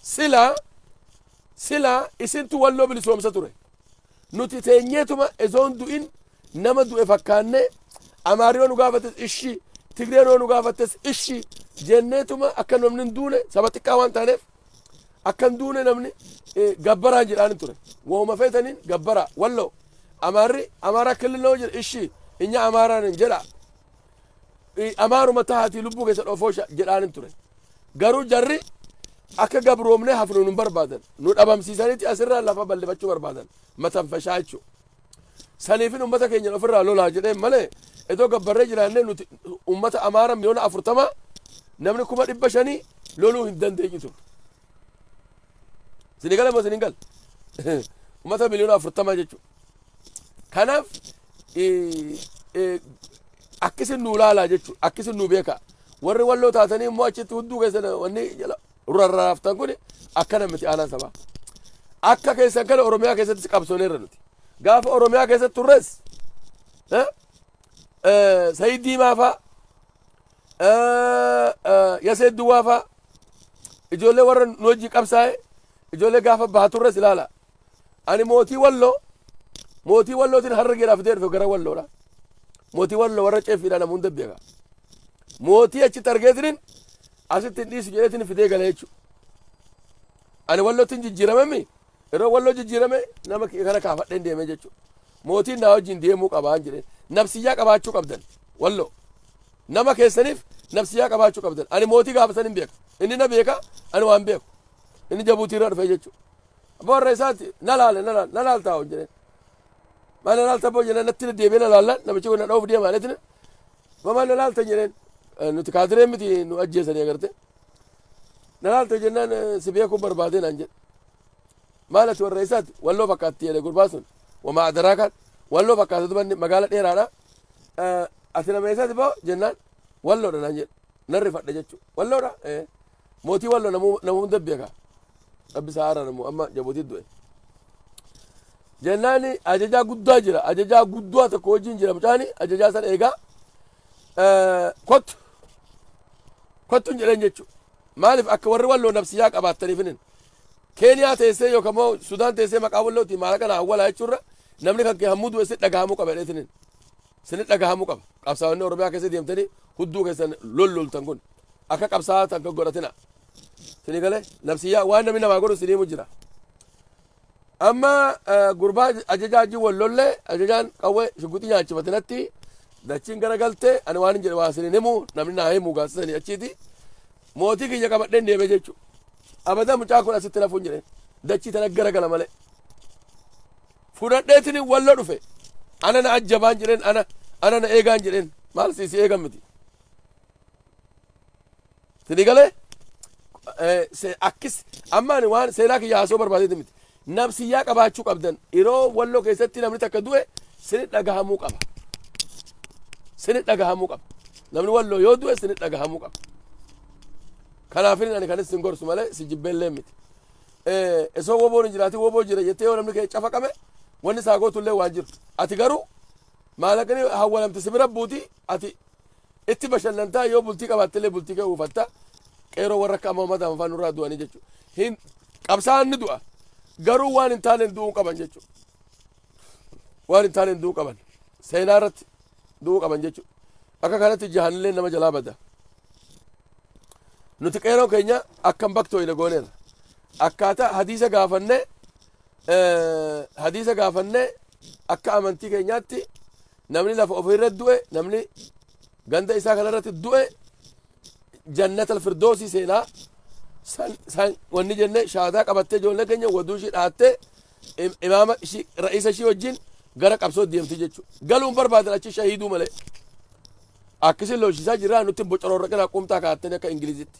Silaa silaa isintu walloo bilisoomsa ture. Nuti teenyeetuma osoo hin du'in nama du'e fakkaannee Amaarri yoo nu gaafates ishii Tigreen yoo nu gaafates ishii jenneetuma akka namni hin duune saba xiqqaa waan taaneef akka hin duune namni eh, gabbaraan jedhaan ture. Wahuma feetaniin gabbaraa walloo Amaarri Amaaraa kililoo jedhe ishii inya Amaaraan hin jedhaa. amaanuma tahaatii lubbuu keessa dhofoosha jedhaanin ture garuu jarri akka gabroomnee hafnu nu barbaadan nu dhabamsiisanitti asirraa lafa bal'ifachuu barbaadan matanfashaa jechuudha. Saniifin uummata keenya ofirraa lolaa jedhee malee iddoo gabbarree jiraannee nuti uummata amaara miliyoona afurtama namni kuma dhibba shanii loluu hin dandeenyu ture. Isinii gale moo isin hin galle? Uummata miliyoona afurtama jechuudha. Kanaaf akkasi nuu laalaa jechuudha. Akkasi nuu beekaa. Warri walloo taatanii immoo achitti hunduu keessan wanni jala rarraaftan kun akkana miti aanaan sabaa. Akka keessan kana Oromiyaa keessattis qabsooneerra nuti. Gaafa Oromiyaa keessatti turres Sayid Diimaa fa'aa Yasee Duwwaa faa ijoollee warra nu wajji qabsaa'e ijoollee gaafa baha turres ilaala. Ani mootii walloo mootii wallootiin harargeedhaaf fidee dhufe gara walloodha. Mootii walloo warra ceeffiidha namuun dabbeeka. Mootii achitti argeetiniin asitti hin dhiisu jedheetiin fidee gala jechuudha. Ani wallootiin jijjiiramammi Yeroo walloo jijjiirame nama kana kaafadheen deemee jechuudha. Mootiin naa wajjin deemuu qabaan jedhee nabsiyyaa qabaachuu qabdan walloo. Nama keessaniif nabsiyyaa qabaachuu qabdan. Ani mootii gaafa san hin beeka. Inni na beeka ani waan beeku. Inni jabuutii irra dhufee jechuudha. Abbaa warra isaati na laale na laale na laaltaa hojii jedheen. Maal na laalta abboo jedheen natti deebi'ee na laallaan namichi kun na dhoof deemaa jedheen. Maal na laalta jedheen nuti kaadiree miti nu ajjeesanii agartee. Na laalte jennaan si beekuu barbaadee naan jedhe. Maal ati warra isaati walloo fakkaatti jedhe gurbaa sun. Wamaa adaraakaan walloo fakkaata dubanni magaala dheeraadha. Ati nama isaati boo jennaan walloodha naan jedhe. Nan rifadhe jechuudha. Walloodha? Mootii walloo nama hunda beeka. Rabbi isaa haaraan immoo amma jabuutii du'e. Jennaani ajajaa guddaa jira ajajaa guddaa tokko wajjin jira mucaani ajajaa sana egaa kottu kottuun jedhan jechuu maaliif akka warri walloo nabsiyaa qabaattaniifinin keeniyaa teessee yookaan immoo sudaan teessee maqaa wallootiin maallaqa na awwalaa jechuurra namni kan kee hammuu du'e si dhagahamuu qaba jedheetinin sini dhagahamuu qaba qabsaa'onni oromiyaa keessa deemtanii hudduu keessan lolloltan kun akka qabsaa'aa tan kan godhatina sini galee nabsiyyaa waan namni namaa godhu siniimu jira Amma gurbaa ajajaa wajjin wal lolle ajajaan qawwee shugguxii nyaachifate natti dachiin gara galte ani waan hin jedhe waa isin hin himu namni naa himu gaasisanii achiiti mootii kiyya qabadheen deeme jechu abada mucaa kun asitti nafuun jedheen dachii tana gara gala malee fudhadheetiin wallo dhufe ana na ajjabaan jedheen ana ana na eegaan jedheen maal si si eegan miti Sini galee akkis amma ani waan seenaa kiyya haasoo barbaadee miti. Nabsiyyaa qabaachuu qabdan yeroo walloo keessatti namni takka du'e sini dhagahamuu qaba. Sini dhagahamuu qaba. Namni walloo yoo du'e sini dhagahamuu qaba. Kanaafin ani kan isin gorsu malee si jibbeellee miti. Esoo woboon hin jiraatin woboo jira jettee yoo namni kee cafaqame wanni isaa gootullee waan jiru. Ati garuu maallaqni hawwalamte si bira buuti ati Itti bashannantaa yoo bultii qabaattillee bultii kee uufatta. Qeeroo warra akka amma uummata afaan nurraa du'anii jechuudha. Hin qabsaa'an ni du'a. Garuu waan hin taaneen du'uu qaban jechuudha. Waan hin taaneen du'uu qaban. Seenaa irratti du'uu qaban jechuudha. Akka kanatti jahanillee nama jalaa bada. Nuti qeeroo keenya akkam baktooyne gooneera. Akkaataa hadiisa gaafannee hadiisa gaafannee akka amantii keenyaatti Namni lafa ofii irratti du'e, namni ganda isaa kana irratti du'e jannata alfirdoosii seenaa san, san wanni jenne shaadaa qabattee ijoollee keenya waduu ishii dhaattee im- imaama ishii ra'iisa ishii wajjin gara qabsoo deemti jechuudha. Galuun barbaadan achi shahiiduu malee. Akkasiin lolchisaa jirraa nutti bocororra qinaa qumtaa kaa'attanii akka Ingilizitti.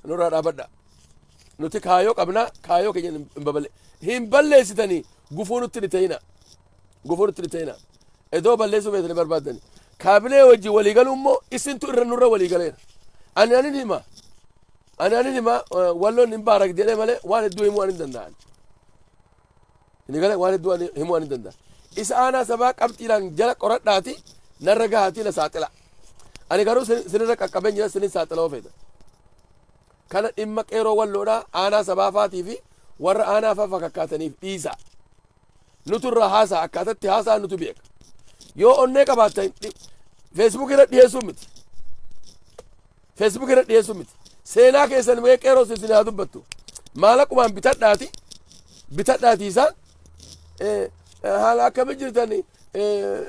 Nurraa dhaabadha. Nuti kaayoo qabnaa kaayoo keenya hin babale. Hin balleessitanii gufuu nutti ni ta'ina. Goforutti ni ta'ina. Edoo balleessuu beekne barbaaddani. Kaabinee wajjin walii galuu immoo isintu irra nurra walii galeera. Ani anin hima. Ani anin hima eh, walloon hin baarak jedhee malee waan hedduu himuu ani hin danda'an. Inni galee waan hedduu ani himuu ani hin danda'an. Isa aanaa sabaa qabxiidhaan jala qoradhaati narra gahaatii na saaxila. Ani garuu sin- sinirra qaqqabeen jira sinin saaxila ofeeta. Kana dhimma qeeroo walloodhaa aanaa sabaa faatii fi warra aanaa faa fakkaataniif dhiisa. nutu irraa haasa'a akkaataa itti haasa'a nutu beeka yoo onnee qabaatta feesbuuk irra dhiyeessuu miti feesbuuk irra dhiyeessuu miti seenaa keessan mee qeeroo isin haa dubbattu maalaqumaan bitadhaati bitadhaati isaan eh, eh, haala akkami jirtan eh,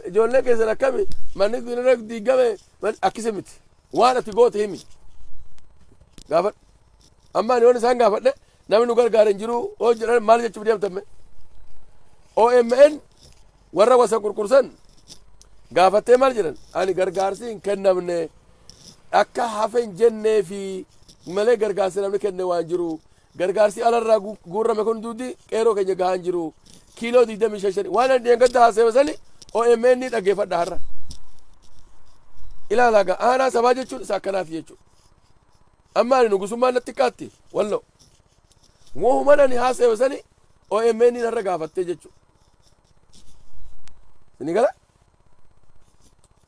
ijoollee keessan akkami manni irra diigame man- akkisi miti waan ati goote himi gaafadhu amma ani waan isaan gaafadhe Namni nu gargaare hin jiru yoo jedhan maal jechuuf deemtan mee? OMN warra wasa kurkursan gaafattee maal jedhan? Ani gargaarsi hin kennamne akka hafe hin jennee fi malee gargaarsi namni kenne waan jiru gargaarsi alarraa gu- guurrame kun duuti qeeroo keenya gahaa hin jiru kiiloo 25 waan ani dheengadda haaseewa sani OMN ni dhaggeeffadha har'a. Ilaalaa gaa aanaa sabaa jechuun isa akkanaati jechuudha. Amma ani nugusummaan natti xiqqaatti walloo. Wohuman ani haasayo sani OMN narra gaafattee jechu. Sini gala?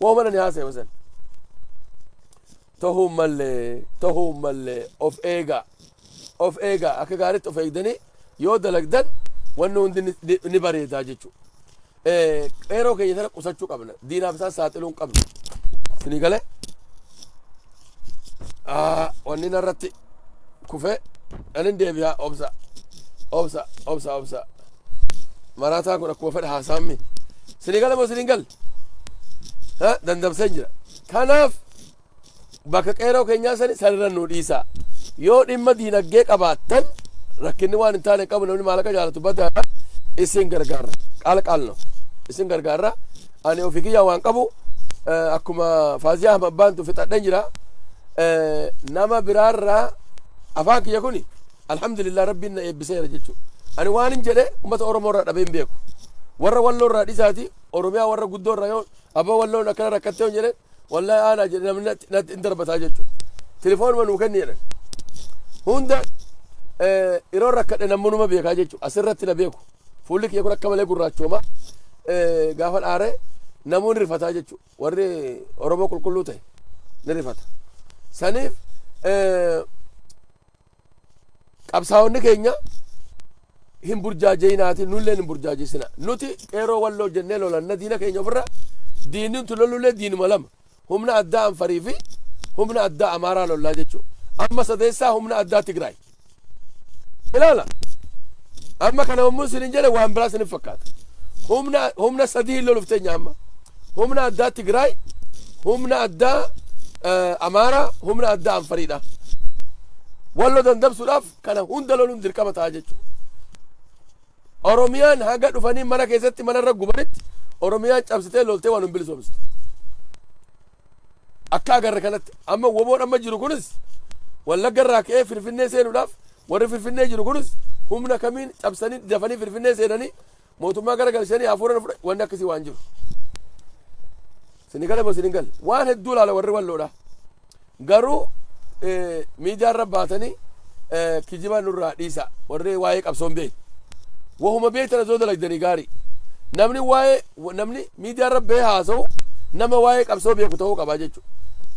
Wohuman ani haasayo sani. Tahuu mallee tahuu mallee of eegaa. Of eegaa akka gaariitti of eegdanii yoo dalagdan wanni hundi ni- ni bareedaa jechu. Qeeroo keenya sana qusachuu qabna. Diinaaf isaan saaxiluu hin qabnu. Isinii galee wanni narratti kufee anin deebi'aa obsa obsa obsa obsa maraataan kun akkuma fedha haasaammi isinii gale moo isiniin galle dandamseen jira kanaaf Bakka qeeroo keenyaa sani sanirra nuu dhiisaa. Yoo dhimma diinaggee qabaattan rakkinni waan hin taane hin qabu namni maallaqa jaalatu badaadha isin gargaarra qaala qaalno isin gargaarra ani ofii kiyyaa waan qabu eh, akkuma faaziyaa ahmad baantu fixadheen jira Eh, nama biraarraa afaan kiyya kuni alhamdulillah rabbiin na eebbiseera jechuudha ani waan hin jedhe ummata oromoo irraa dhabee hin beeku warra walloo irraa dhisaati oromiyaa warra guddoo irraa yoo abbaa walloon akkana rakkattee hin jedheen Wallahi aanaa jedhe namni natti natti hin darbataa jechuudha. Telefoonuma nuu kenni jedhan. Hunda eh, yeroo rakkadhe namni numa beekaa jechuudha. Asirratti na beeku. Fuulli kiyya kun akka malee gurraachooma. Eh, Gaafa dhaare namoonni rifataa jechuudha. Warri Oromoo qulqulluu ta'e ni rifata. Saniif eh, qabsaa'onni keenya hin burjaaja'inaati nulleen hin burjaajesina nuti qeeroo walloo jennee lolanna diina keenya ofirra diinni nuti lolullee diinuma lama humna addaa anfarii fi humna addaa amaaraa lollaa jechuudha amma sadeessaa humna addaa tigraay ilaala amma kana yommuu isin hin jedhe waan biraa isin hin fakkaata humna humna sadii hin lolufteenya amma Humna addaa Tigraay, humna addaa eh, Amaaraa, humna addaa Anfariidha. Wallo dandamsuudhaaf kana hunda loluun dirqama ta'a jechuudha. Oromiyaan haga dhufanii mana keessatti mana irra gubanitti Oromiyaan cabsitee loltee waan hin bilisoomsitu. Akka agarre kanatti amma woboon amma jiru kunis wallagga irraa ka'ee Finfinnee seenuudhaaf warri Finfinnee jiru kunis humna kamiin cabsanii dafanii Finfinnee seenanii Mootummaa gara galchanii hafuura nu fudhate wanni akkasii waan jiru. Sini gala moo sini gala waan hedduu ilaala warri walloodha. Garuu miidiyaa irra baatanii kijibaa nurraa dhiisa warri waa'ee qabsoon beeku. Wahuma beektan osoo dalagdanii gaarii. Namni waa'ee namni miidiyaa irra bee haasa'u nama waa'ee qabsoo beeku ta'uu qaba jechuudha.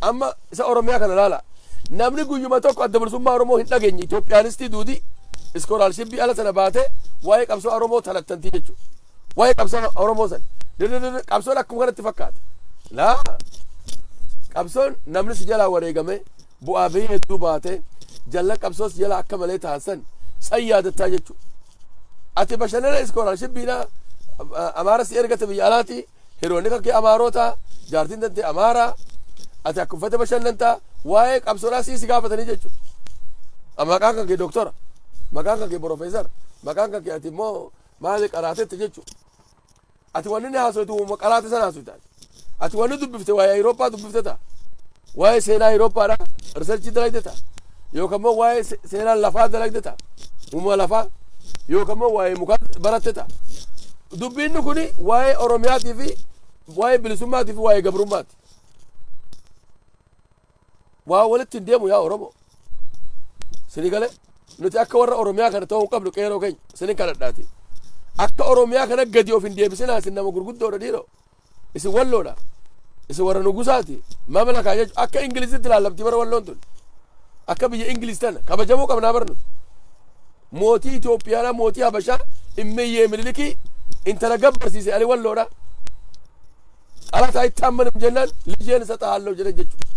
Amma Isa Oromiyaa kana ilaalaa. Namni guyyuma tokko adda bilisummaa Oromoo hin dhageenye Itoophiyaanistii duudii iskoolaarshiippii ala sana baatee waa'ee qabsoo Oromoo talattantii jechuudha. Waa'ee qabsoo Oromoo sana. Dirrirri qabsoon akkuma kanatti fakkaata. Laa qabsoon namni si jalaa wareegamee bu'aa bahii hedduu baatee jallan qabsoo si jalaa akka malee taasisan san yaadattaa jechuudha. Ati bashannana iskoolaarshiippiidhaa amaara si ergate biyya alaatii Hiriyoonni kan kee Amaarota, jaartiin tantee Amaara, ati akka uffata bashannanta, waa'ee qabsoodhaa sii si gaafatanii jechuudha. A, Maqaan kan kee doktora, maqaan kan kee profeesara, maqaan kan kee ati immoo maali qaraatetta jechuudha. Ati wanni inni haasoitu uuma qaraate sana haasoita. Ati wanni dubbifte waa'ee Awurooppaa dubbifte ta'a. Waa'ee seenaa Ayrooppaadhaa riisarchii dalagde ta'a. Yookaan immoo waa'ee se- seenaa lafaa dalagde ta'a. Uumama lafaa yookaan immoo waa'ee mukaa baratte ta'a. Dubbiinni kun waa'ee Oromiyaatii fi waa'ee bilisummaatii fi waa'ee gabrummaati. Waa walitti hin deemu yaa Oromoo. Sini galee nuti akka warra Oromiyaa kana ta'uu hin qabnu qeeroo keenya sinin kadhadhaati. Akka Oromiyaa kana gadi of hin deebisinaa sin nama gurguddoodha dhiiroo. Isin walloodha. Isin warra nugusaati. Mamlakaa jechuun akka Ingilizitti laallamti bara walloon tun. Akka biyya Ingiliz tana kabajamuu qabnaa barnu. Mootii Itoophiyaadhaa mootii Habashaa immeeyyee mililikii intala gabbarsiise ani walloodha. Xalataa itti ammanum jennaan lijeen isa xahaalloo jedhan jechuudha.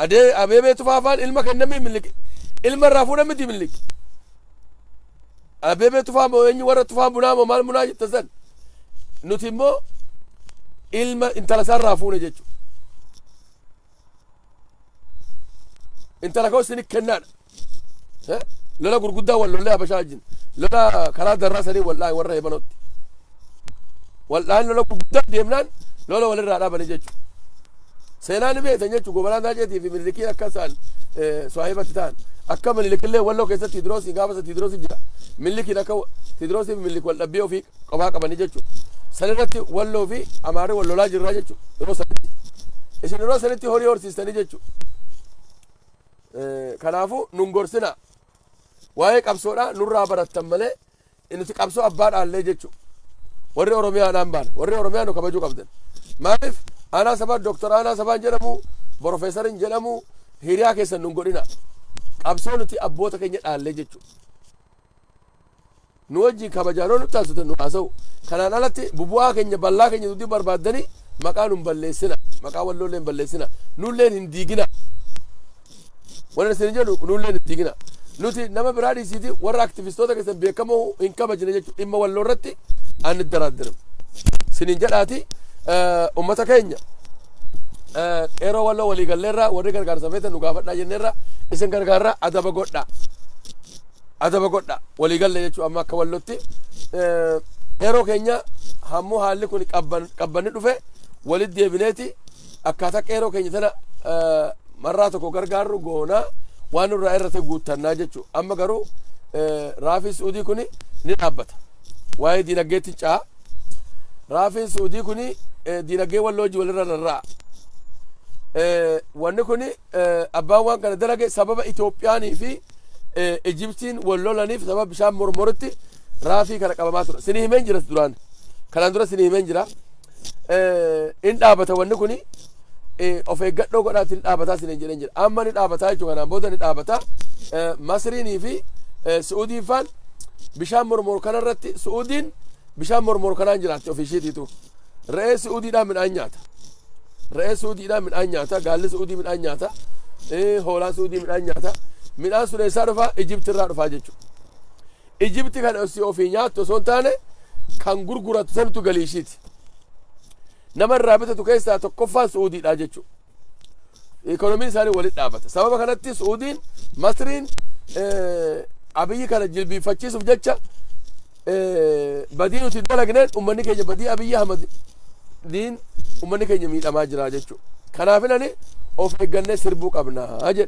Adee abeebee tufaafaan ilma kennamii mililik ilma irraa fuudhan miti mililik. Abeebee Tufaa moo eenyu warra Tufaa munaa moo maal munaa jette san nuti immoo ilma intala isaarraa fuune jechuudha. Intala koo isin kennaadha. Eh? Lola gurguddaa wal lollee habashaa wajjin. Lola karaa darraa sanii wallaahi warra hebanootti. Waldhaan lola guddaa deemnaan lola walirraa dhaabanii jechuudha. Seenaa ni beektan jechuudha. Gobanaa Taaceetii fi Minilikiin akka isaan Suwaahibatti ta'an. Akka Minilikillee Walloo keessatti Tidiroosii gaafa isa Tidiroosii jira. Minilikiin akka Tidiroosii fi Minilik wal dhabbii ofii qofaa qabanii jechuudha. San irratti Walloo fi Amaarri wal lolaa jirraa jechuudha. Yeroo sanitti. Isin yeroo sanitti horii horsiistanii jechuudha. Kanaafuu nun gorsinaa. Waa'ee qabsoodhaa nurraa barattan malee Nuti qabsoo abbaa dhaallee jechuu warri Oromiyaadhaan baana. Warri Oromiyaa nu kabajuu qabdan. Maaliif aanaa sabaa Dooktar aanaa sabaan jedhamu Profeesarin jedhamu hiriyaa keessan nun godhina. Qabsoo nuti abboota keenya dhaallee jechuu. Nu wajjin kabajaan ol nutti haasoftan nu haasa'u. Kanaan alatti bubu'aa keenya ballaa keenya dudii barbaaddanii maqaa nun balleessina. Maqaa walloollee hin balleessina. Nulleen hin diigina. Wanan isin jedhu nullee hin ittiiginaa. Nuti nama biraa dhiisiiti warra aktivistoota keessan beekamoo hin kabajne jechuudha. Dhimma walloo irratti aan iddaraaddiram. Sinin jedhaati uummata keenya qeeroo walloo walii galleerraa warri gargaarsa feetan nu gaafadhaa jenneerraa isin gargaarraa adaba godhaa. Adaba godhaa walii galle jechuudha amma akka wallootti. Qeeroo keenya hammuu haalli kun qabbanni dhufe walitti deebineeti Akkaataa qeeroo keenya tana marraa tokko gargaarru goonaa waan nurraa irra ta'e guuttannaa jechuudha. Amma garuu raafiin Suudii kun ni dhaabbata. Waa'ee diinagdeetti ce'a. Raafiin Suudii kun diinagdee walloo hojii walirra rarra'a. Wanni kun abbaan waan kana dalage sababa Itoophiyaanii fi Ijibtiin wal lolaniif sababa bishaan mormoritti raafii kana qabamaa ture. Sini himeen jira duraan. Kanaan dura sini himeen jira. in dhaabata wanni kuni of eeggadhoo godhaatti ni dhaabataa sinin jedhen jedha amma ni dhaabataa jechuudha kanaan booda ni dhaabataa masriinii fi su'uudiin faan bishaan mormor kanarratti su'uudiin bishaan mormor kanaan jiraatti ofii ishiitiitu re'ee su'uudiidhaan midhaan nyaata re'ee su'uudiidhaan midhaan nyaata gaalli su'uudii midhaan nyaata hoolaa su'uudii midhaan nyaata midhaan sun eessaa dhufaa ijibtirraa dhufaa jechuudha Ijipti kan ossi ofii nyaattu osoo hin taane kan gurgurattu santu galii ishiiti. Nama irraa bitatu keessaa tokkoffaan Su'uudiidha jechuudha. Ikoonomiin isaanii walitti dhaabata. Sababa kanatti Su'uudiin, Masriin abiyyi kana jilbiiffachiisuuf jecha badii nuti dalagneen uummanni keenya badii abiyyi Ahmad diin uummanni keenya miidhamaa jira jechuudha. Kanaaf inani of eeggannee sirbuu qabna jedhe.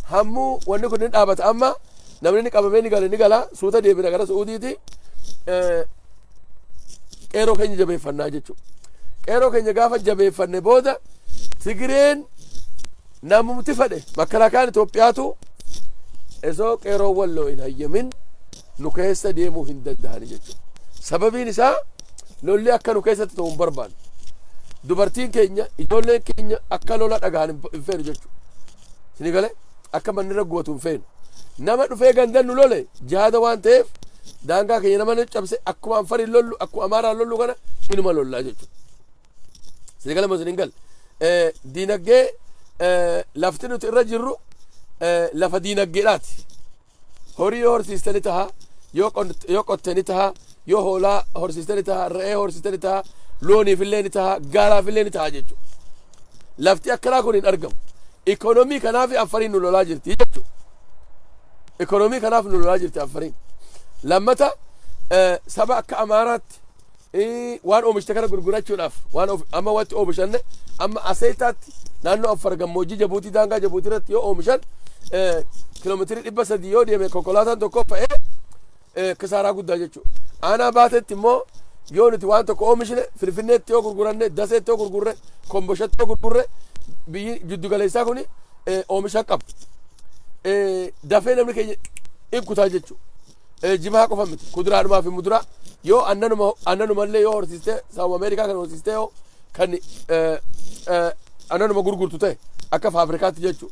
Hammuu wanni kun ni dhaabata amma Namni inni qabamee ni gale ni gala suuta deebina gara Su'uudiiti. Qeeroo keenya jabeeffannaa jechuudha. Qeeroo keenya gaafa jabeeffanne booda Tigireen namumti fedhe makalaakaan Itoophiyaatu osoo qeeroo walloo hin hayyamin nu keessa deemuu hin danda'ani jechuudha. Sababiin isaa lolli akka nu keessatti ta'u hin barbaanne. Dubartiin keenya ijoolleen keenya akka lola dhagahan hin feenu jechuudha. Sini galee akka manni irra gubatu hin feenu. Nama dhufee gandan nu lole jihaada waan ta'eef daangaa keenya nama nu cabse akkuma Anfariin lollu akkuma Amaaraan lollu kana inuma lollaa jechuudha. Sini galee moo sini hin galle? Eh, Diinagdee eh, lafti nuti irra jirru eh, lafa diinagdeedhaati. Horii yoo horsiiste ni taha, yoo qon- yoo qotte ni taha, yoo hoolaa horsiiste ni taha, re'ee horsiiste ni taha, looniif illee ni taha, gaalaaf illee ni taha jechuudha. Lafti akkanaa kun hin argamu. Ikoonoomii kanaaf affariin nu lolaa jirti jechuudha. Ikoonoomii kanaaf nu lolaa jirti affariin. Lammata eh, saba akka Amaaraatti waan oomishte kana gurgurachuudhaaf waan amma wanti oomishanne amma aseetaatti naannoo affar gammoojjii jabuutii daangaa jabuutii irratti yoo oomishan kiiloomeetirii dhibba sadii yoo deeme konkolaataan tokko fe'ee kisaaraa guddaa jechuudha. Aanaa baatetti immoo yoo nuti waan tokko oomishne finfinneetti yoo gurguranne daseetti yoo gurgurre komboshatti yoo gurgurre biyyi jiddugaleessaa kun oomisha qabu. Dafee namni keenya in kutaa jechuudha. Eh, jimaa qofa miti kuduraadhumaa fi muduraa yoo annanuma annanuma illee yoo horsiistee sababa ameerikaa kan horsiistee yoo kan eh, eh, annanuma gurgurtu ta'e akka faafrikaatti jechuu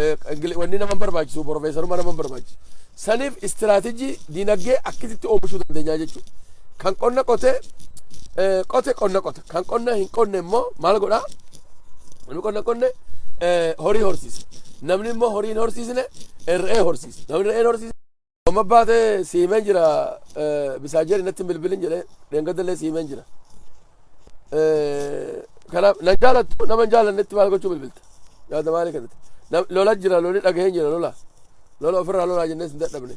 eh, ingili- wanni nama hin barbaachisu profeesaruma nama hin barbaachisu saniif istiraatejii diinagdee akkasitti oomishuu dandeenya jechuu kan qonna qotee eh, qote qonna qota kan qonna hin qonne immoo maal godhaa namni qonna qonne eh, horii horsiisa namni immoo horii hin horsiisne eh, re'ee horsiisa namni re'ee hin horsiisne Amma baatee si himeen jira misaajeeri natti hin bilbilin jedhee dheengadallee si himeen jira. Kanaaf nan jaalattu nama hin jaalannetti maal gochuu bilbilta yaada maalii kanatti. Lola jira loli dhagaheen jira lola lola ofirraa lolaa jennee sin dadhabne.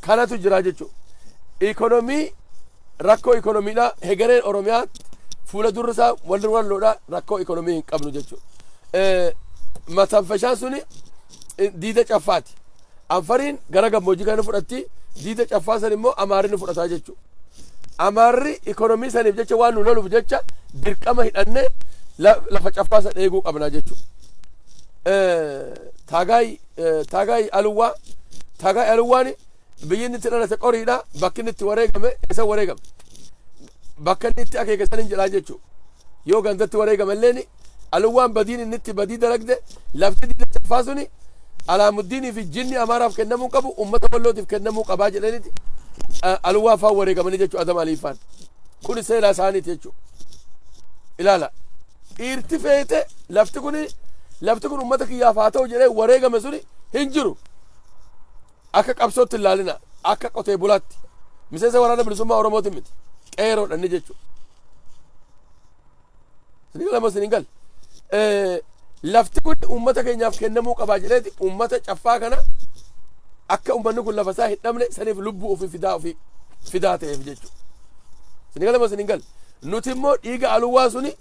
Kanatu jira jechuudha. Ikonomii rakkoo ikonomiidhaa hegereen Oromiyaa fuula durri isaa walli walloodhaa rakkoo ikonomii hin qabnu jechuudha. Matanfashaan suni diida caffaati. Afariin gara gammoojjii kana ni fudhatti, diida caffaa san immoo Amaarri ni fudhataa jechuudha. Amaarri ikonomii saniif jecha waan nu loluuf jecha dirqama hidhannee lafa caffaa san eeguu qabnaa jechuudha. Taagaay Taagaay Aluwaa Taagaay Aluwaan biyyi inni itti dhalate qoriidha bakki inni itti wareegame isa wareegame bakka inni itti akeeke san hin jedhaa jechuudha. Yoo gandatti wareegame illee Aluwwaan badiin inni itti badii dalagde lafti diina caffaa suni Alaamuddiinii fi jinni Amaaraaf kennamuu hin qabu uummata Wallootiif kennamuu qabaa jedhaniti Aluwwaa faan wareegamanii jechuu Adam Alii faan. Kuni seenaa isaaniiti jechuu. Ilaala. Dhiirti feete lafti kuni lafti kun uummata kiyyaaf haa ta'u jedhee wareegame suni hin jiru. Akka qabsootti hin laalina. Akka qotee bulaatti. Miseensa waraana bilisummaa Oromootiin miti. Qeeroodha inni jechuu. Isin gala moo isin hin galle? Eh, Lafti kun uummata keenyaaf kennamuu qabaa jedheeti uummata caffaa kana akka uummanni kun lafa isaa hin dhabne saniif lubbuu ofii fidaa ofii fidaa ta'eef jechuudha. Isin gala moo isin hin galle? Nuti immoo dhiiga aluwaa suni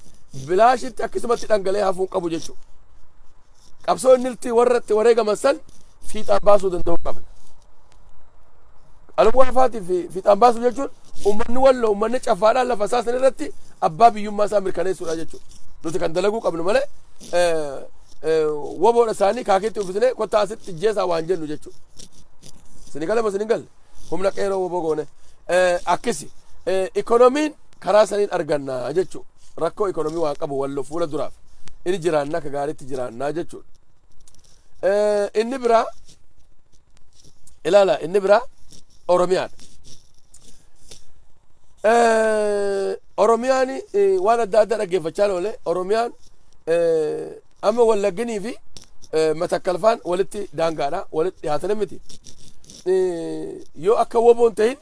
bilaashitti akkasumatti dhangala'ee hafuun qabu jechuudha. qabsoo inni irratti warra itti wareegaman san fiixaan baasuu danda'uu qabna. Alamuu Arfaatiif fiixaan baasuu jechuun uummanni walloo uummanni caffaadhaan lafa isaa san irratti abbaa biyyummaa isaa mirkaneessuudha jechuudha. Nuti kan dalaguu qabnu malee waboodha isaanii kaakeetti uffisnee kottaa asitti jeesaa waan jennu jechuudha. Sini galama sini galle. humna qeeroo woboo goone akkisi ikonomiin karaa saniin arganna jechuu rakkoo ikonomii waan qabu wallo fuula duraaf inni jiraannaa ka gaariitti jiraannaa jechuudha. Inni biraa ilaala inni biraa Oromiyaadha. Oromiyaan waan adda addaa dhaggeeffachaa oole Oromiyaan amma wallagginii fi matakkalfaan walitti daangaadha walitti dhiyaatanii miti. yoo akka woboo hin ta'in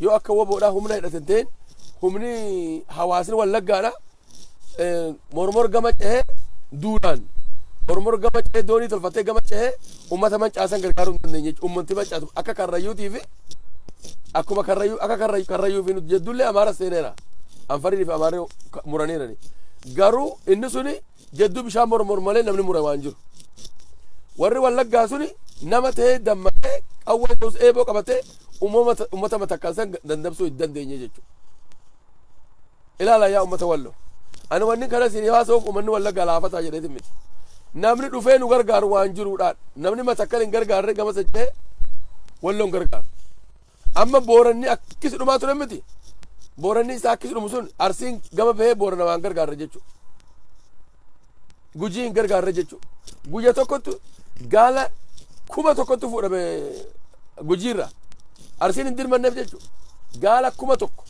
yoo akka woboodhaa humna hidhate hin ta'in humni hawaasni wallaggaadha mormor gama cehee duudhaan mormor gama cehee doonii tolfatee gama cehee uummata mancaasan gargaaruu hin dandeenye jechuudha. Uummanti mancaatu akka karrayyuutii fi akkuma karrayyuu akka karrayyuu karrayyuu fi nuti jedduullee amaara seeneera. Anfariin fi amaarri muraniirani. Garuu inni suni jedduu bishaan mormor malee namni mure waan jiru. Warri wallaggaa suni nama ta'ee dammaqee qawwee ta'us eeboo qabatee uummata matakkaan san dandamsuu hin dandeenye jechuudha. Ilaala yaa uummata walloo. Ani wanni kana isin haasa'uuf uummanni wallaggaa laafataa jedheetiin miti. Namni dhufee nu gargaaru waan jiruudhaan namni matakkan hin gargaarre gama socho'ee walloon gargaaru. Amma Booranni akkisi dhumaa ture miti. Booranni isaa akkisi dhumu sun Arsiin gama bahee Boorana waan gargaarra jechuudha. Gujii hin gargaarra jechuudha. Guyya tokkottu gaala kuma tokkottu fuudhame gujiirra. Arsiin hin dirmanneef jechuudha. Gaala kuma tokko.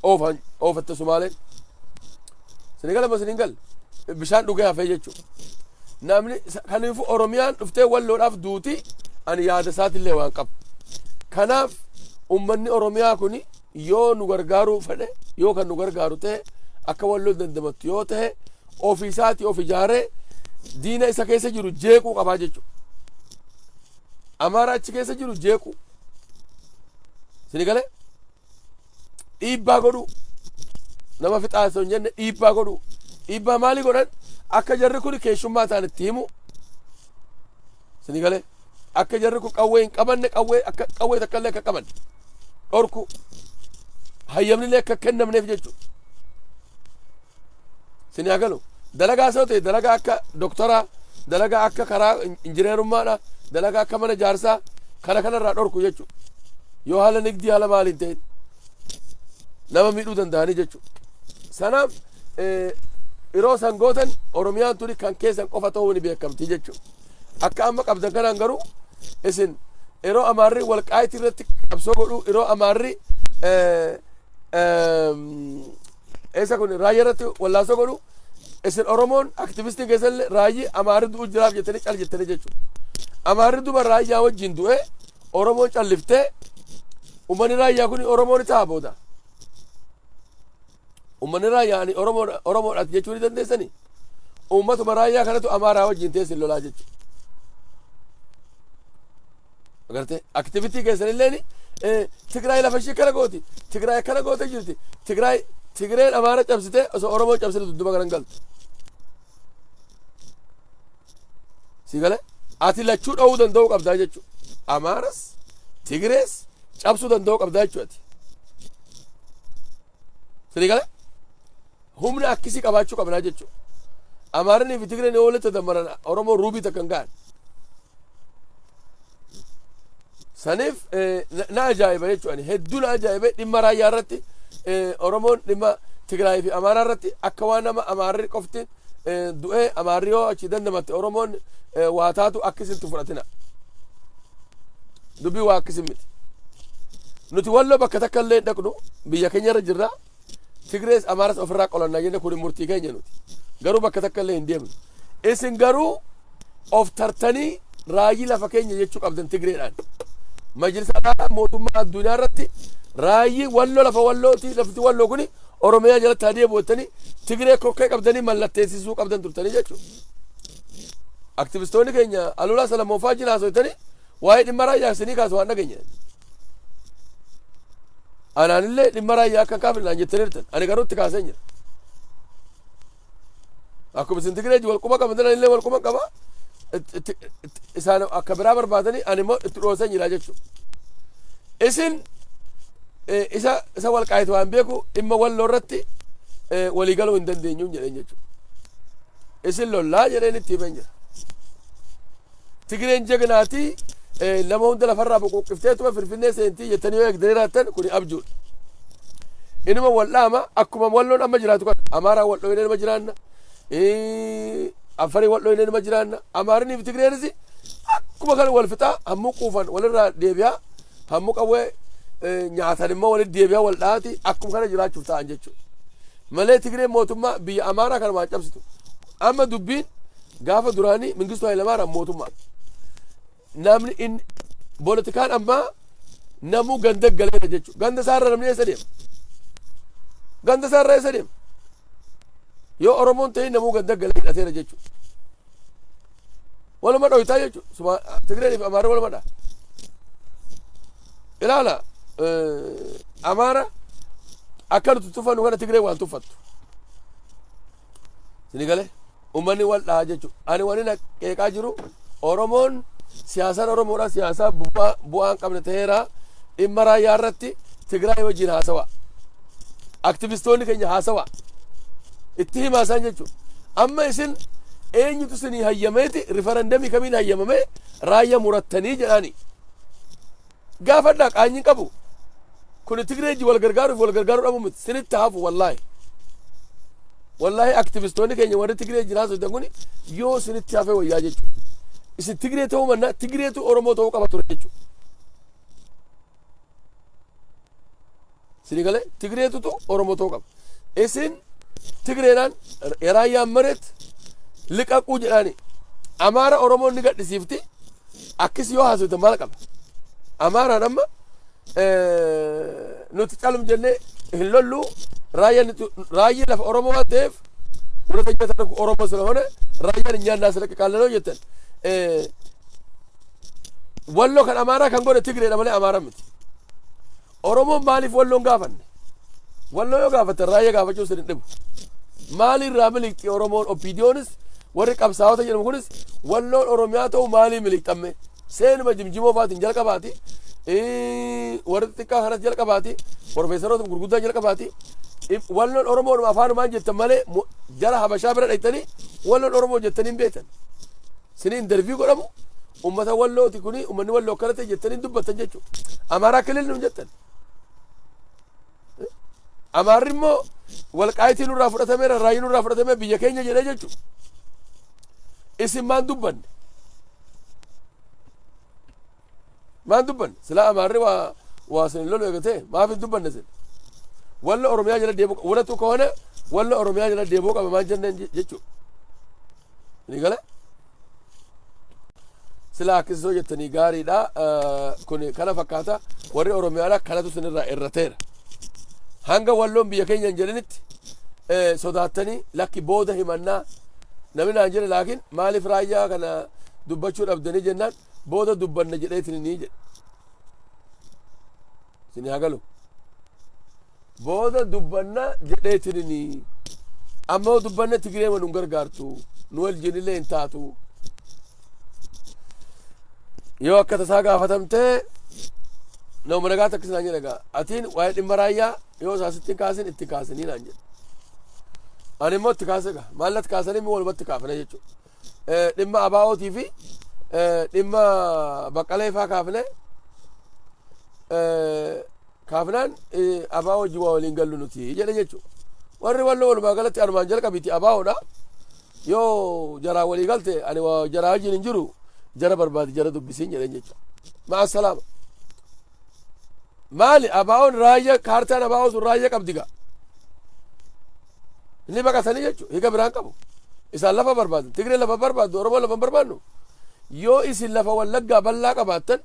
Oofan oofatte Sumaaleen. Senegal amma Senegal bishaan dhugee hafee jechuudha. Namni kaniifuu Oromiyaan dhuftee walloodhaaf duuti ani yaada isaatiillee waan qabu. Kanaaf uummanni Oromiyaa kun yoo nu gargaaruu fedhe yoo kan nu gargaaru ta'e akka walloo dandamattu yoo ta'e ofii isaatii of ijaaree diina isa keessa jiru jeequu qabaa jechuudha. Amaaraa achi keessa jiru jeequu. Sinigalee? dhiibbaa godhuu nama fixaa osoo hin jenne dhiibbaa godhuu dhiibbaa maalii godhan akka jarri kun keessummaa ta'an itti himu isinii galee akka jarri kun qawwee hin qabanne qawwee akka qawwee takka illee akka qaban dhorku hayyamni illee akka kennamneef jechuudha. Isin haa galu. Dalagaa soo ta'e dalagaa akka doktoraa, dalagaa akka karaa injineerummaadha, dalagaa akka mana jaarsaa kana kanarraa dhorku jechuudha. Yoo haala nigdii haala maaliin ta'in nama miidhuu danda'anii jechuudha. Sanaaf yeroo san gootan Oromiyaan tuni kan keessan qofa ta'uu ni beekamti jechuudha. Akka amma qabdan kanaan garuu isin yeroo amaarri walqaayitii irratti qabsoo godhuu yeroo amaarri Eessa kun raayya irratti wallaansoo godhu isin Oromoon aktivistiin keessan illee raayyi amaarri du'u jiraaf jettanii cal jettanii jechuudha. Amaarri duba raayyaa wajjin du'e Oromoon calliftee uummanni raayyaa kun Oromoo ni ta'a booda. Uummanni raayyaa ani Oromoodha Oromoodha jechuu ni dandeessanii? Uummatuma raayyaa kanatu amaaraa wajjin teessin lolaa jechuudha. Agartee aktivitii keessan illeen Tigraay lafa ishii kana gooti. Tigraay akkana gootee jirti. Tigraay Tigreen Amaara cabsitee osoo Oromoo cabsine dudduba kanan galtu. Si galee ati lachuu dha'uu danda'uu qabdaa jechuudha. Amaaras Tigrees cabsuu danda'uu qabdaa jechuudha. Sini galee Humna akkisii qabaachuu qabnaa jechuu. Amaaranii fi Tigreen yoo walitti dammaran Oromoo ruubii takka hin ga'an. Saniif na ajaa'iba jechuu ani hedduu na ajaa'iba dhimma raayyaa irratti Oromoon dhimma Tigraay fi Amaaraa irratti akka waan nama Amaarri qofti du'ee Amaarri yoo achi dandamatte Oromoon waa taatu akkisitti fudhatina. Dubbii waa akkisii miti. Nuti walloo bakka takka illee dhaqnu biyya keenya irra jirra Tigrees Amaaras ofirraa qolanna jenne kuni murtii keenya nuti. Garuu bakka takka illee hin deemnu. Isin garuu of tartanii raayyi lafa keenya jechuu qabdan Tigreedhaan. Majlisa Araaraa mootummaa addunyaa irratti raayyi walloo lafa wallooti lafti walloo kuni Oromiyaa jalatti haa deebi'u jettanii Tigree kokkee qabdanii mallatteessisuu qabdan turtanii jechuudha. Aktivistoonni keenya Alulaa Salamoofaa jina haasofitanii waa'ee dhimma raayyaa isinii kaasu waan dhageenye. Anaanillee dhimma raayyaa akka hin kaafne naan jettaniirtan. Ani garuu itti kaaseen jira. Akkuma isin Tigireeji wal quba qabdan anillee wal quba qaba. Itti- itti- itti- Isaan akka biraa barbaadanii ani immoo itti dhooseen jira jechuudha. Isin eh, isa isa wal qaayitu waan beeku dhimma walloo irratti eh, walii galuu hin dandeenyu jedheen jechuudha. Isin lollaa jedheen itti himeen jira. Tigireen jagnaati nama hunda lafarraa boqoqqifteetuma Finfinnee seentii jettanii yoo eegdanii raattan kuni abjuudha. Inuma wal dhaama akkuma walloon amma jiraatu kana Amaaraan wal dhooyinee nima jiraanna. Affarii wal dhooyinee nima jiraanna. Amaariniif Tigireenis akkuma kana wal fixaa hammuu quufan walirraa deebi'aa hammuu qawwee nyaatan immoo walitti deebi'aa wal dha'aati akkuma kana jiraachuuf ta'an jechuudha. Malee Tigireen mootummaa biyya Amaaraa kana waan cabsitu. Amma dubbiin Gaafa duraanii Mingistuu Hayilamaaraam mootummaa namni in politikaan ammaa namuu ganda galeera jechuudha. Ganda isaarra namni eessa deema? Ganda isaarra eessa deema? Yoo Oromoon ta'e namuu ganda galee hidhateera jechuudha. Waluma dhohitaa jechuudha. Tigreen fi Amaarri waluma dha. Ilaala Amaara akka nuti tuffannu kana Tigreen waan tuffattu. Sini galee uummanni wal dhahaa jechuudha. Ani wani na qeeqaa jiru Oromoon siyaasaan Oromoodhaa siyaasaa bu'aa bu'aa hin qabne ta'eera dhimma raayyaa irratti Tigraay wajjin haasawa. Aktivistoonni keenya haasawa. Itti himaa isaan jechuudha. Amma isin eenyutu isinii hayyameeti rifarandamii kamiin hayyamamee raayyaa murattanii jedhaanii. Gaafadhaa qaanyi hin qabu. Kuni Tigree ijji wal gargaaruu fi wal gargaaruu dhabuu miti. Sinitti hafu wallaahi. Wallaahi aktivistoonni keenya warri Tigree ijjin haasoftan kuni yoo sinitti hafee wayyaa jechuudha. Isin Tigree ta'uu mannaa Tigreetu Oromoo ta'uu qaba ture jechuudha. Sini galee Tigreetutu Oromoo ta'uu qaba. Isin Tigreedhaan Raayyaan Mareet liqaquu jedhaani. Amaara Oromoon ni gadhisiifti. Akkis yoo haasofte maal qaba? Amaaraan amma nuti calum jennee hin lollu raayyii lafa Oromoo waan ta'eef warra jiraatan kun Oromoo sana hone raayyaan hin nyaannaa sirriitti qaallanoo jettan. Walloo kan Amaaraa kan godhe Tigreedha malee Amaaraa miti. Oromoon maaliif Walloo hin gaafanne? Walloo yoo gaafatan raayya gaafachuu sin hin dhibu. Maalii irraa miliqxi Oromoon OPDOnis warri qabsaa'ota jedhamu kunis Walloon Oromiyaa ta'u maalii miliqxamme? Seenuma jimjimoo fa'aatiin jalqabaati. Ii, Warri xixiqqaa kanas jalqabaati. Profeesaroota gurguddaa jalqabaati. Ib- Walloon Oromoodhuma afaanumaan jettan malee mo- jara Habashaa bira dhaqxanii Walloon Oromoo jettanii hin beektan. Sinii interviyuu godhamu Ummata wallooti kuni ummanni walloo akkana ta'e jettanii dubbattan jechuudha. Amaaraa kilil nuun jettan. Amaarri immoo walqaayitii nurraa fudhatameera raayii nurraa fudhatamee biyya keenya jedhee jechuudha. Isin maan dubbanne? Maan dubbanne? Silaa amaarri waa waa sin lolu eegatee maaf hin dubbanne sin? Walla Oromiyaa jala deemuu qaba. Wanatu koone walla Oromiyaa jala deemuu qaba maan jenneen jechuudha. Ni gale? Silaa akkasii yoo jettanii gaariidha. Kun kana fakkaata. Warri Oromiyaadha kanatu sinirraa irrateera. Hanga walloon biyya keenya hin jedhinitti sodaattanii lakki booda himannaa namni naan jedhe laakiin maaliif raayyaa kana dubbachuu dhabdanii jennaan booda dubbanna jedheetiin ni jedhe. isin haa galu booda dubbanna jedheetinini amma yoo dubbanne tigiree ma nun gargaartu nu wajjinillee hin taatu yoo akka tasaa gaafatamtee nama madagaa takka sinaan jedha gaa atiin waa'ee dhimma raayyaa yoo isaa sitti hin kaasin itti hin kaasinii naan jedhe ani immoo itti kaase gaa maallatti kaasanii immoo walumatti kaafne jechuudha eh, dhimma abaa'ootii fi eh, dhimma baqqalee faa kaafne eh, kaafnaan eh, abaa wajji waa waliin gallu nuti jedhe jechuudha. Warri walloo walumaa galatti anumaan jalqabiiti abaa'oodha. Yoo jaraa walii galte ani waa jaraa wajjin hin jiru jara barbaadi jara dubbisiin jedheen jecha. Ma'a salaama. Maali abaa'oon raayyaa kaartaan abaa'oo sun raayyaa qabdi gaa. Inni baqatanii jechuun hiika biraan qabu. Isaan lafa barbaadan. Tigree lafa barbaaddu. Oromoo lafa barbaadnu. Yoo isin lafa wallaggaa bal'aa qabaattan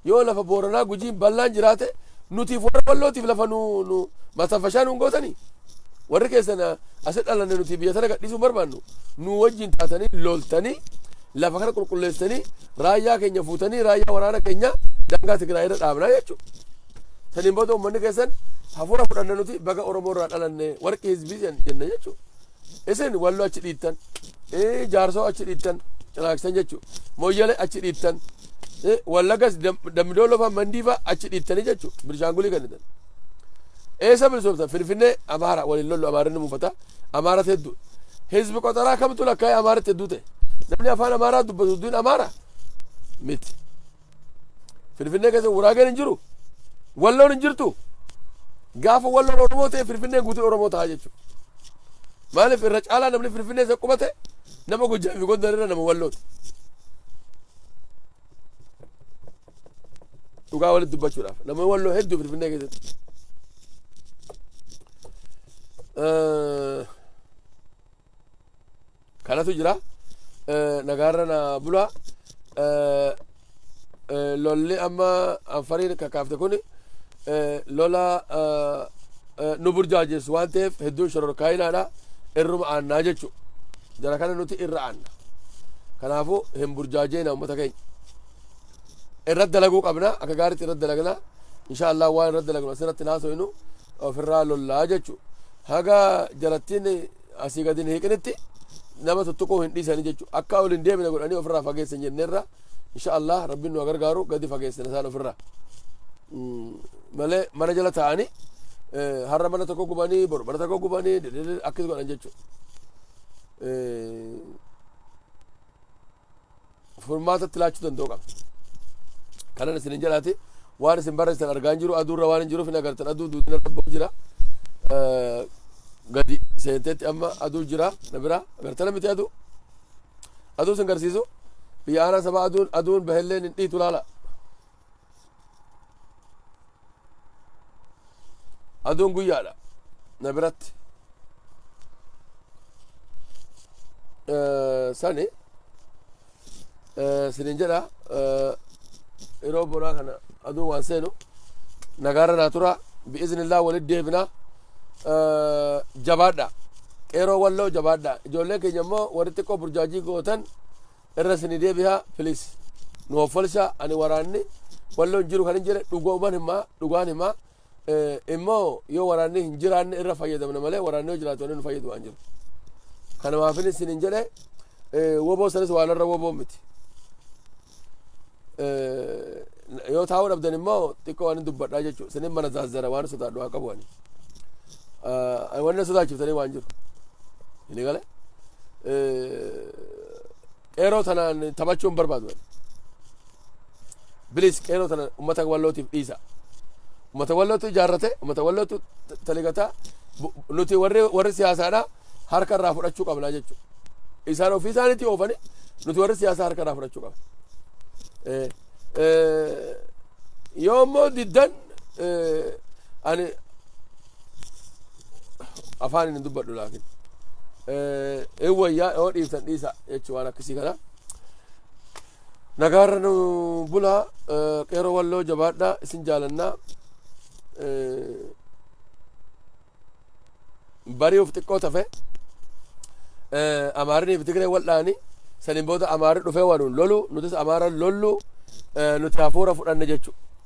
yoo lafa booranaa gujiin bal'aan jiraate nutiif warra wallootiif lafa nu nu masanfashaa nuun gootanii warri keessan asi dhalanne nuti biyya sana gadhiisuu barbaannu nu wajjin taatanii loltanii lafa kana qulqulleessanii raayyaa keenya fuutanii raayyaa waraana keenya daangaa Tigraay irra dhaabnaa jechuudha. Saniin booda uummanni keessan hafuura fudhanne nuti baga Oromoo irraa dhalanne warqii hizbii jen- jenna jechuudha. Isin walloo achi dhiittan, ee, jaarsoo achi dhiittan, cinaaksan jechuudha. Moyyale achi dhiittan, ee, wallagas Dam- dammidooloo fa'aa mandii fa'aa achi dhiittanii jechuudha. Bilishaangulii kennitan. Eessa bilisoomsan? Finfinnee Amaara waliin lollu Amaarinni muufata. Amaaratti hedduu. Hizbi qotaraa kamtu lakkaa'ee Amaaritti hedduu ta'e? Namni afaan Amaaraa dubbatu hedduun Amaara miti. Finfinnee keessa Guraageen hin jiru. Walloon hin jirtu. Gaafa walloon Oromoo ta'e Finfinneen guutuun Oromoo ta'a jechuudha. Maaliif irra caalaa namni Finfinnee isa qubate nama Gojjaa fi Gondar irra nama wallooti. Dhugaa walitti dubbachuudhaaf nama walloo hedduu Finfinnee keessatti. Eh, kanatu jira nagaarra na bula lolli amma anfariin kakaafte kun lola nu burjaajessu waan ta'eef hedduun shororkaayinaadha irruma aannaa jechu jara kana nuti irra aanna kanaafuu hin burjaajeena ummata keenya irratti dalaguu qabna akka gaaritti irratti dalagna insha allah waan irratti dalagnu asirratti hin haasoynu ofirraa lollaa jechu haga jarattiin asii gadi hin hiiqinitti nama tuttuquu hin dhiisanii jechuudha. Akka ol hin deemine godhanii ofirraa fageessan jenneerra. Insha Allah rabbiin nu gargaaru gadi fageessan isaan ofirraa. Malee mana jala taa'anii har'a mana tokko gubanii boru mana tokko gubanii akkas godhan jechuudha. furmaata itti laachuu danda'u qaba. Kanan isin hin jalaate waan isin barreessitan argaa hin jiru aduurra waan hin jiruuf hin agartan aduu duudina rabboo jira. Eh, Gadi seenteetti amma aduu jira na bira agartana miti aduu. Aduu isin garsiisu biyya aanaa sabaa aduun aduun bahelleen hin dhiitu laala. aduun guyyaadha na biratti Eh, sani eh, sinin jedha eh, yeroo bonaa kana aduun waan seenu nagaarra naa tura bi'iznillah walit deebina Eh, jabaadha qeeroo walloo jabaadha ijoollee keenya immoo warri xiqqoo burjaajii gootan Irra sini debiha please nu hoffolsa ani waraanni walloo hin jiru kan hin jedhe dhugooman hima dhugaan hima immoo yoo waraanni hin jiraanne irra fayyadamna malee waraanni yoo jiraatu wanni nu fayyadu waan jiru kana maafin isin hin jedhe woboo sanis waan irra woboo miti yoo taa'uu dhabdan immoo xiqqoo waan hin dubbadhaa jechuudha sinin mana zaazzara waan sodaadhu haa qabu ani wanni sodaachiftanii waan jiru hin galee Qeeroo tanaan taphachuu hin barbaadu. Bilis qeeroo tana uummata wallootiif dhiisa. Uummata wallootu ijaarrate, uummata wallootu taligataa nuti warri warri siyaasaadhaa harka irraa fudhachuu qabna jechuudha. Isaan ofii isaaniitii oofanii nuti warri siyaasaa harka irraa fudhachuu qabna. Yoo immoo diddan ani afaan inni dubbadhu laakin ee wayyaa yoo dhiiftan dhiisa jechuu waan akkasii kana nagaarra nu bulaa qeeroo walloo jabaadhaa isin jaalannaa bari'uuf xiqqoo tafe amaarinii fi tigree waldhaani saniin booda amaari dhufee wanuun lolu nutis amaara lollu nuti hafuura fudhanne jechu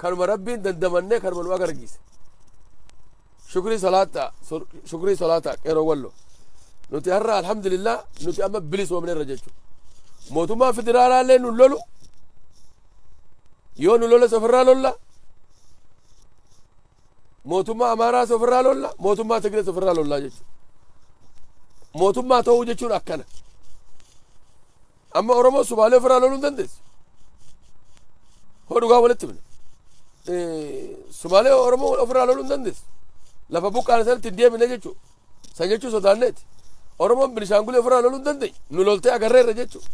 kanuma rabbiin dandamannee kanuma nu agargiise shukrii salaata shukrii salaata qeeroo wallo nuti har'a alhamdulillah nuti amma bilisoomne irra jechuudha mootummaan federaalaa illee nu lolu yoo nu loles ofirraa lolla mootummaa amaaraas ofirraa lolla mootummaa tigrees ofirraa lollaa jechuudha mootummaa ta'uu jechuun akkana Amma Oromoo Sumaalee ofirraa loluu hin dandeessu. Hoo dhugaa walitti himna. Sumaalee Oromoo ofirraa loluu hin dandeessu. Lafa buqqaane sanatti hin deebine jechuudha. San jechuu sodaanneeti. Oromoon Binishaangulee ofirraa loluu hin dandeenye. Nu loltee agarreerra jechuudha.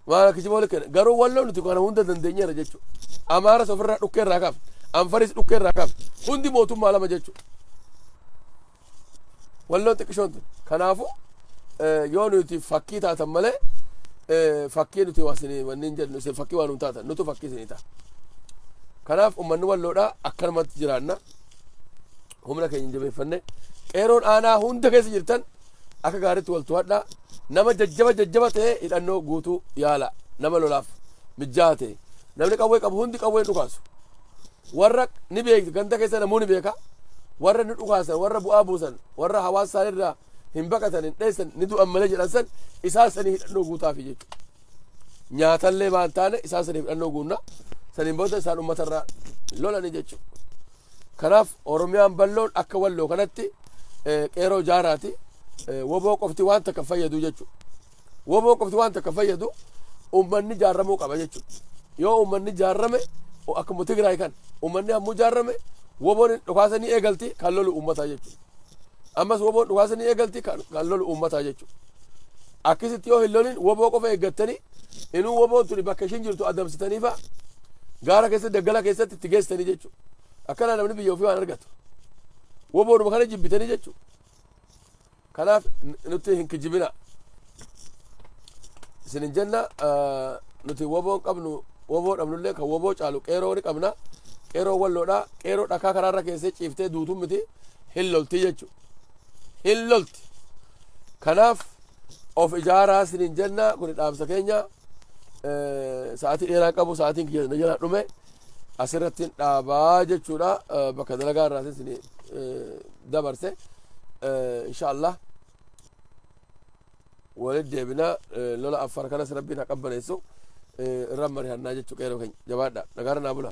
Maal kijiboo likkeen garuu walloo nuti kana hunda dandeenyeera jechuudha. Amaaras ofirraa dhukkeerraa kaafne. Anfaris dhukkeerraa kaafne. Hundi mootummaa lama jechuudha. Walloo xiqqishoon tun. Kanaafu yoo nuti fakkii taatan malee fakkii nuti waasini wanni hin jedhu isin fakkii waan hin taatan nutu fakkii isinii ta'a. Kanaaf uummanni walloodhaa akkanumatti jiraanna. Humna keenya hin jabeeffanne. Qeeroon aanaa hunda keessa jirtan akka gaariitti wal to'adhaa. Nama jajjaba jajjaba ta'ee hidhannoo guutuu yaala. Nama lolaaf mijjaa ta'e. Namni qawwee qabu hundi qawween dhukaasu. Warra ni beekti ganda keessa namuu ni beeka warra ni dhukaasan warra bu'aa buusan warra hawaasa isaanii irraa hin baqatan hin dheessan ni du'an malee jedhan san isaan sanii hidhannoo guutaafi jechuudha. Nyaatallee maan taane isaan sanii hidhannoo guunna saniin booda isaan uummata irraa lolanii jechuudha. Kanaaf Oromiyaan balloon akka walloo kanatti eh, qeeroo jaaraati eh, woboo qofti waan takka fayyadu jechuudha. Woboo qofti waan takka fayyadu uummanni jaarramuu qaba jechuudha. Yoo uummanni jaarrame akkuma Tigraay kan uummanni hammuu jaarrame woboon dhukaasa ni eegalti kan lolu uummataa jechuudha. Ammas woboon dhukaasa ni eegalti kan lolu uummataa jechuudha. Akkasitti yoo hin lolin woboo qofa eeggattanii inuu woboon tuni bakka ishiin jirtu adamsitanii fa'a gaara keessatti daggala keessatti itti geessitanii jechuudha. Akkana namni biyya ofii waan argatu. Woboodhuma kana jibbitanii jechuudha. kanaaf nutti hin kijibina isinin jenna nuti woboon qabnu woboo dhabnullee kan woboo caalu qeeroo ni qabna qeeroo walloodha qeeroo dhakaa karaarra keessee ciiftee duutuun miti hin lolti jechu hin lolti kanaaf of ijaaraa isinin jenna kuni dhaamsa keenya sa'aatii dheeraa qabu sa'aatiin kiyya na jalaa dhume asirratti hin dhaabaa jechuudha Eh, bakka dalagaa irraa isin dabarse Eh, insha allah walit deebina Eh, lola affar kanas rabbiin haa qabbaneessu Eh, irra marihannaa jechuu qeeroo keenya jabaadha nagaara naa bula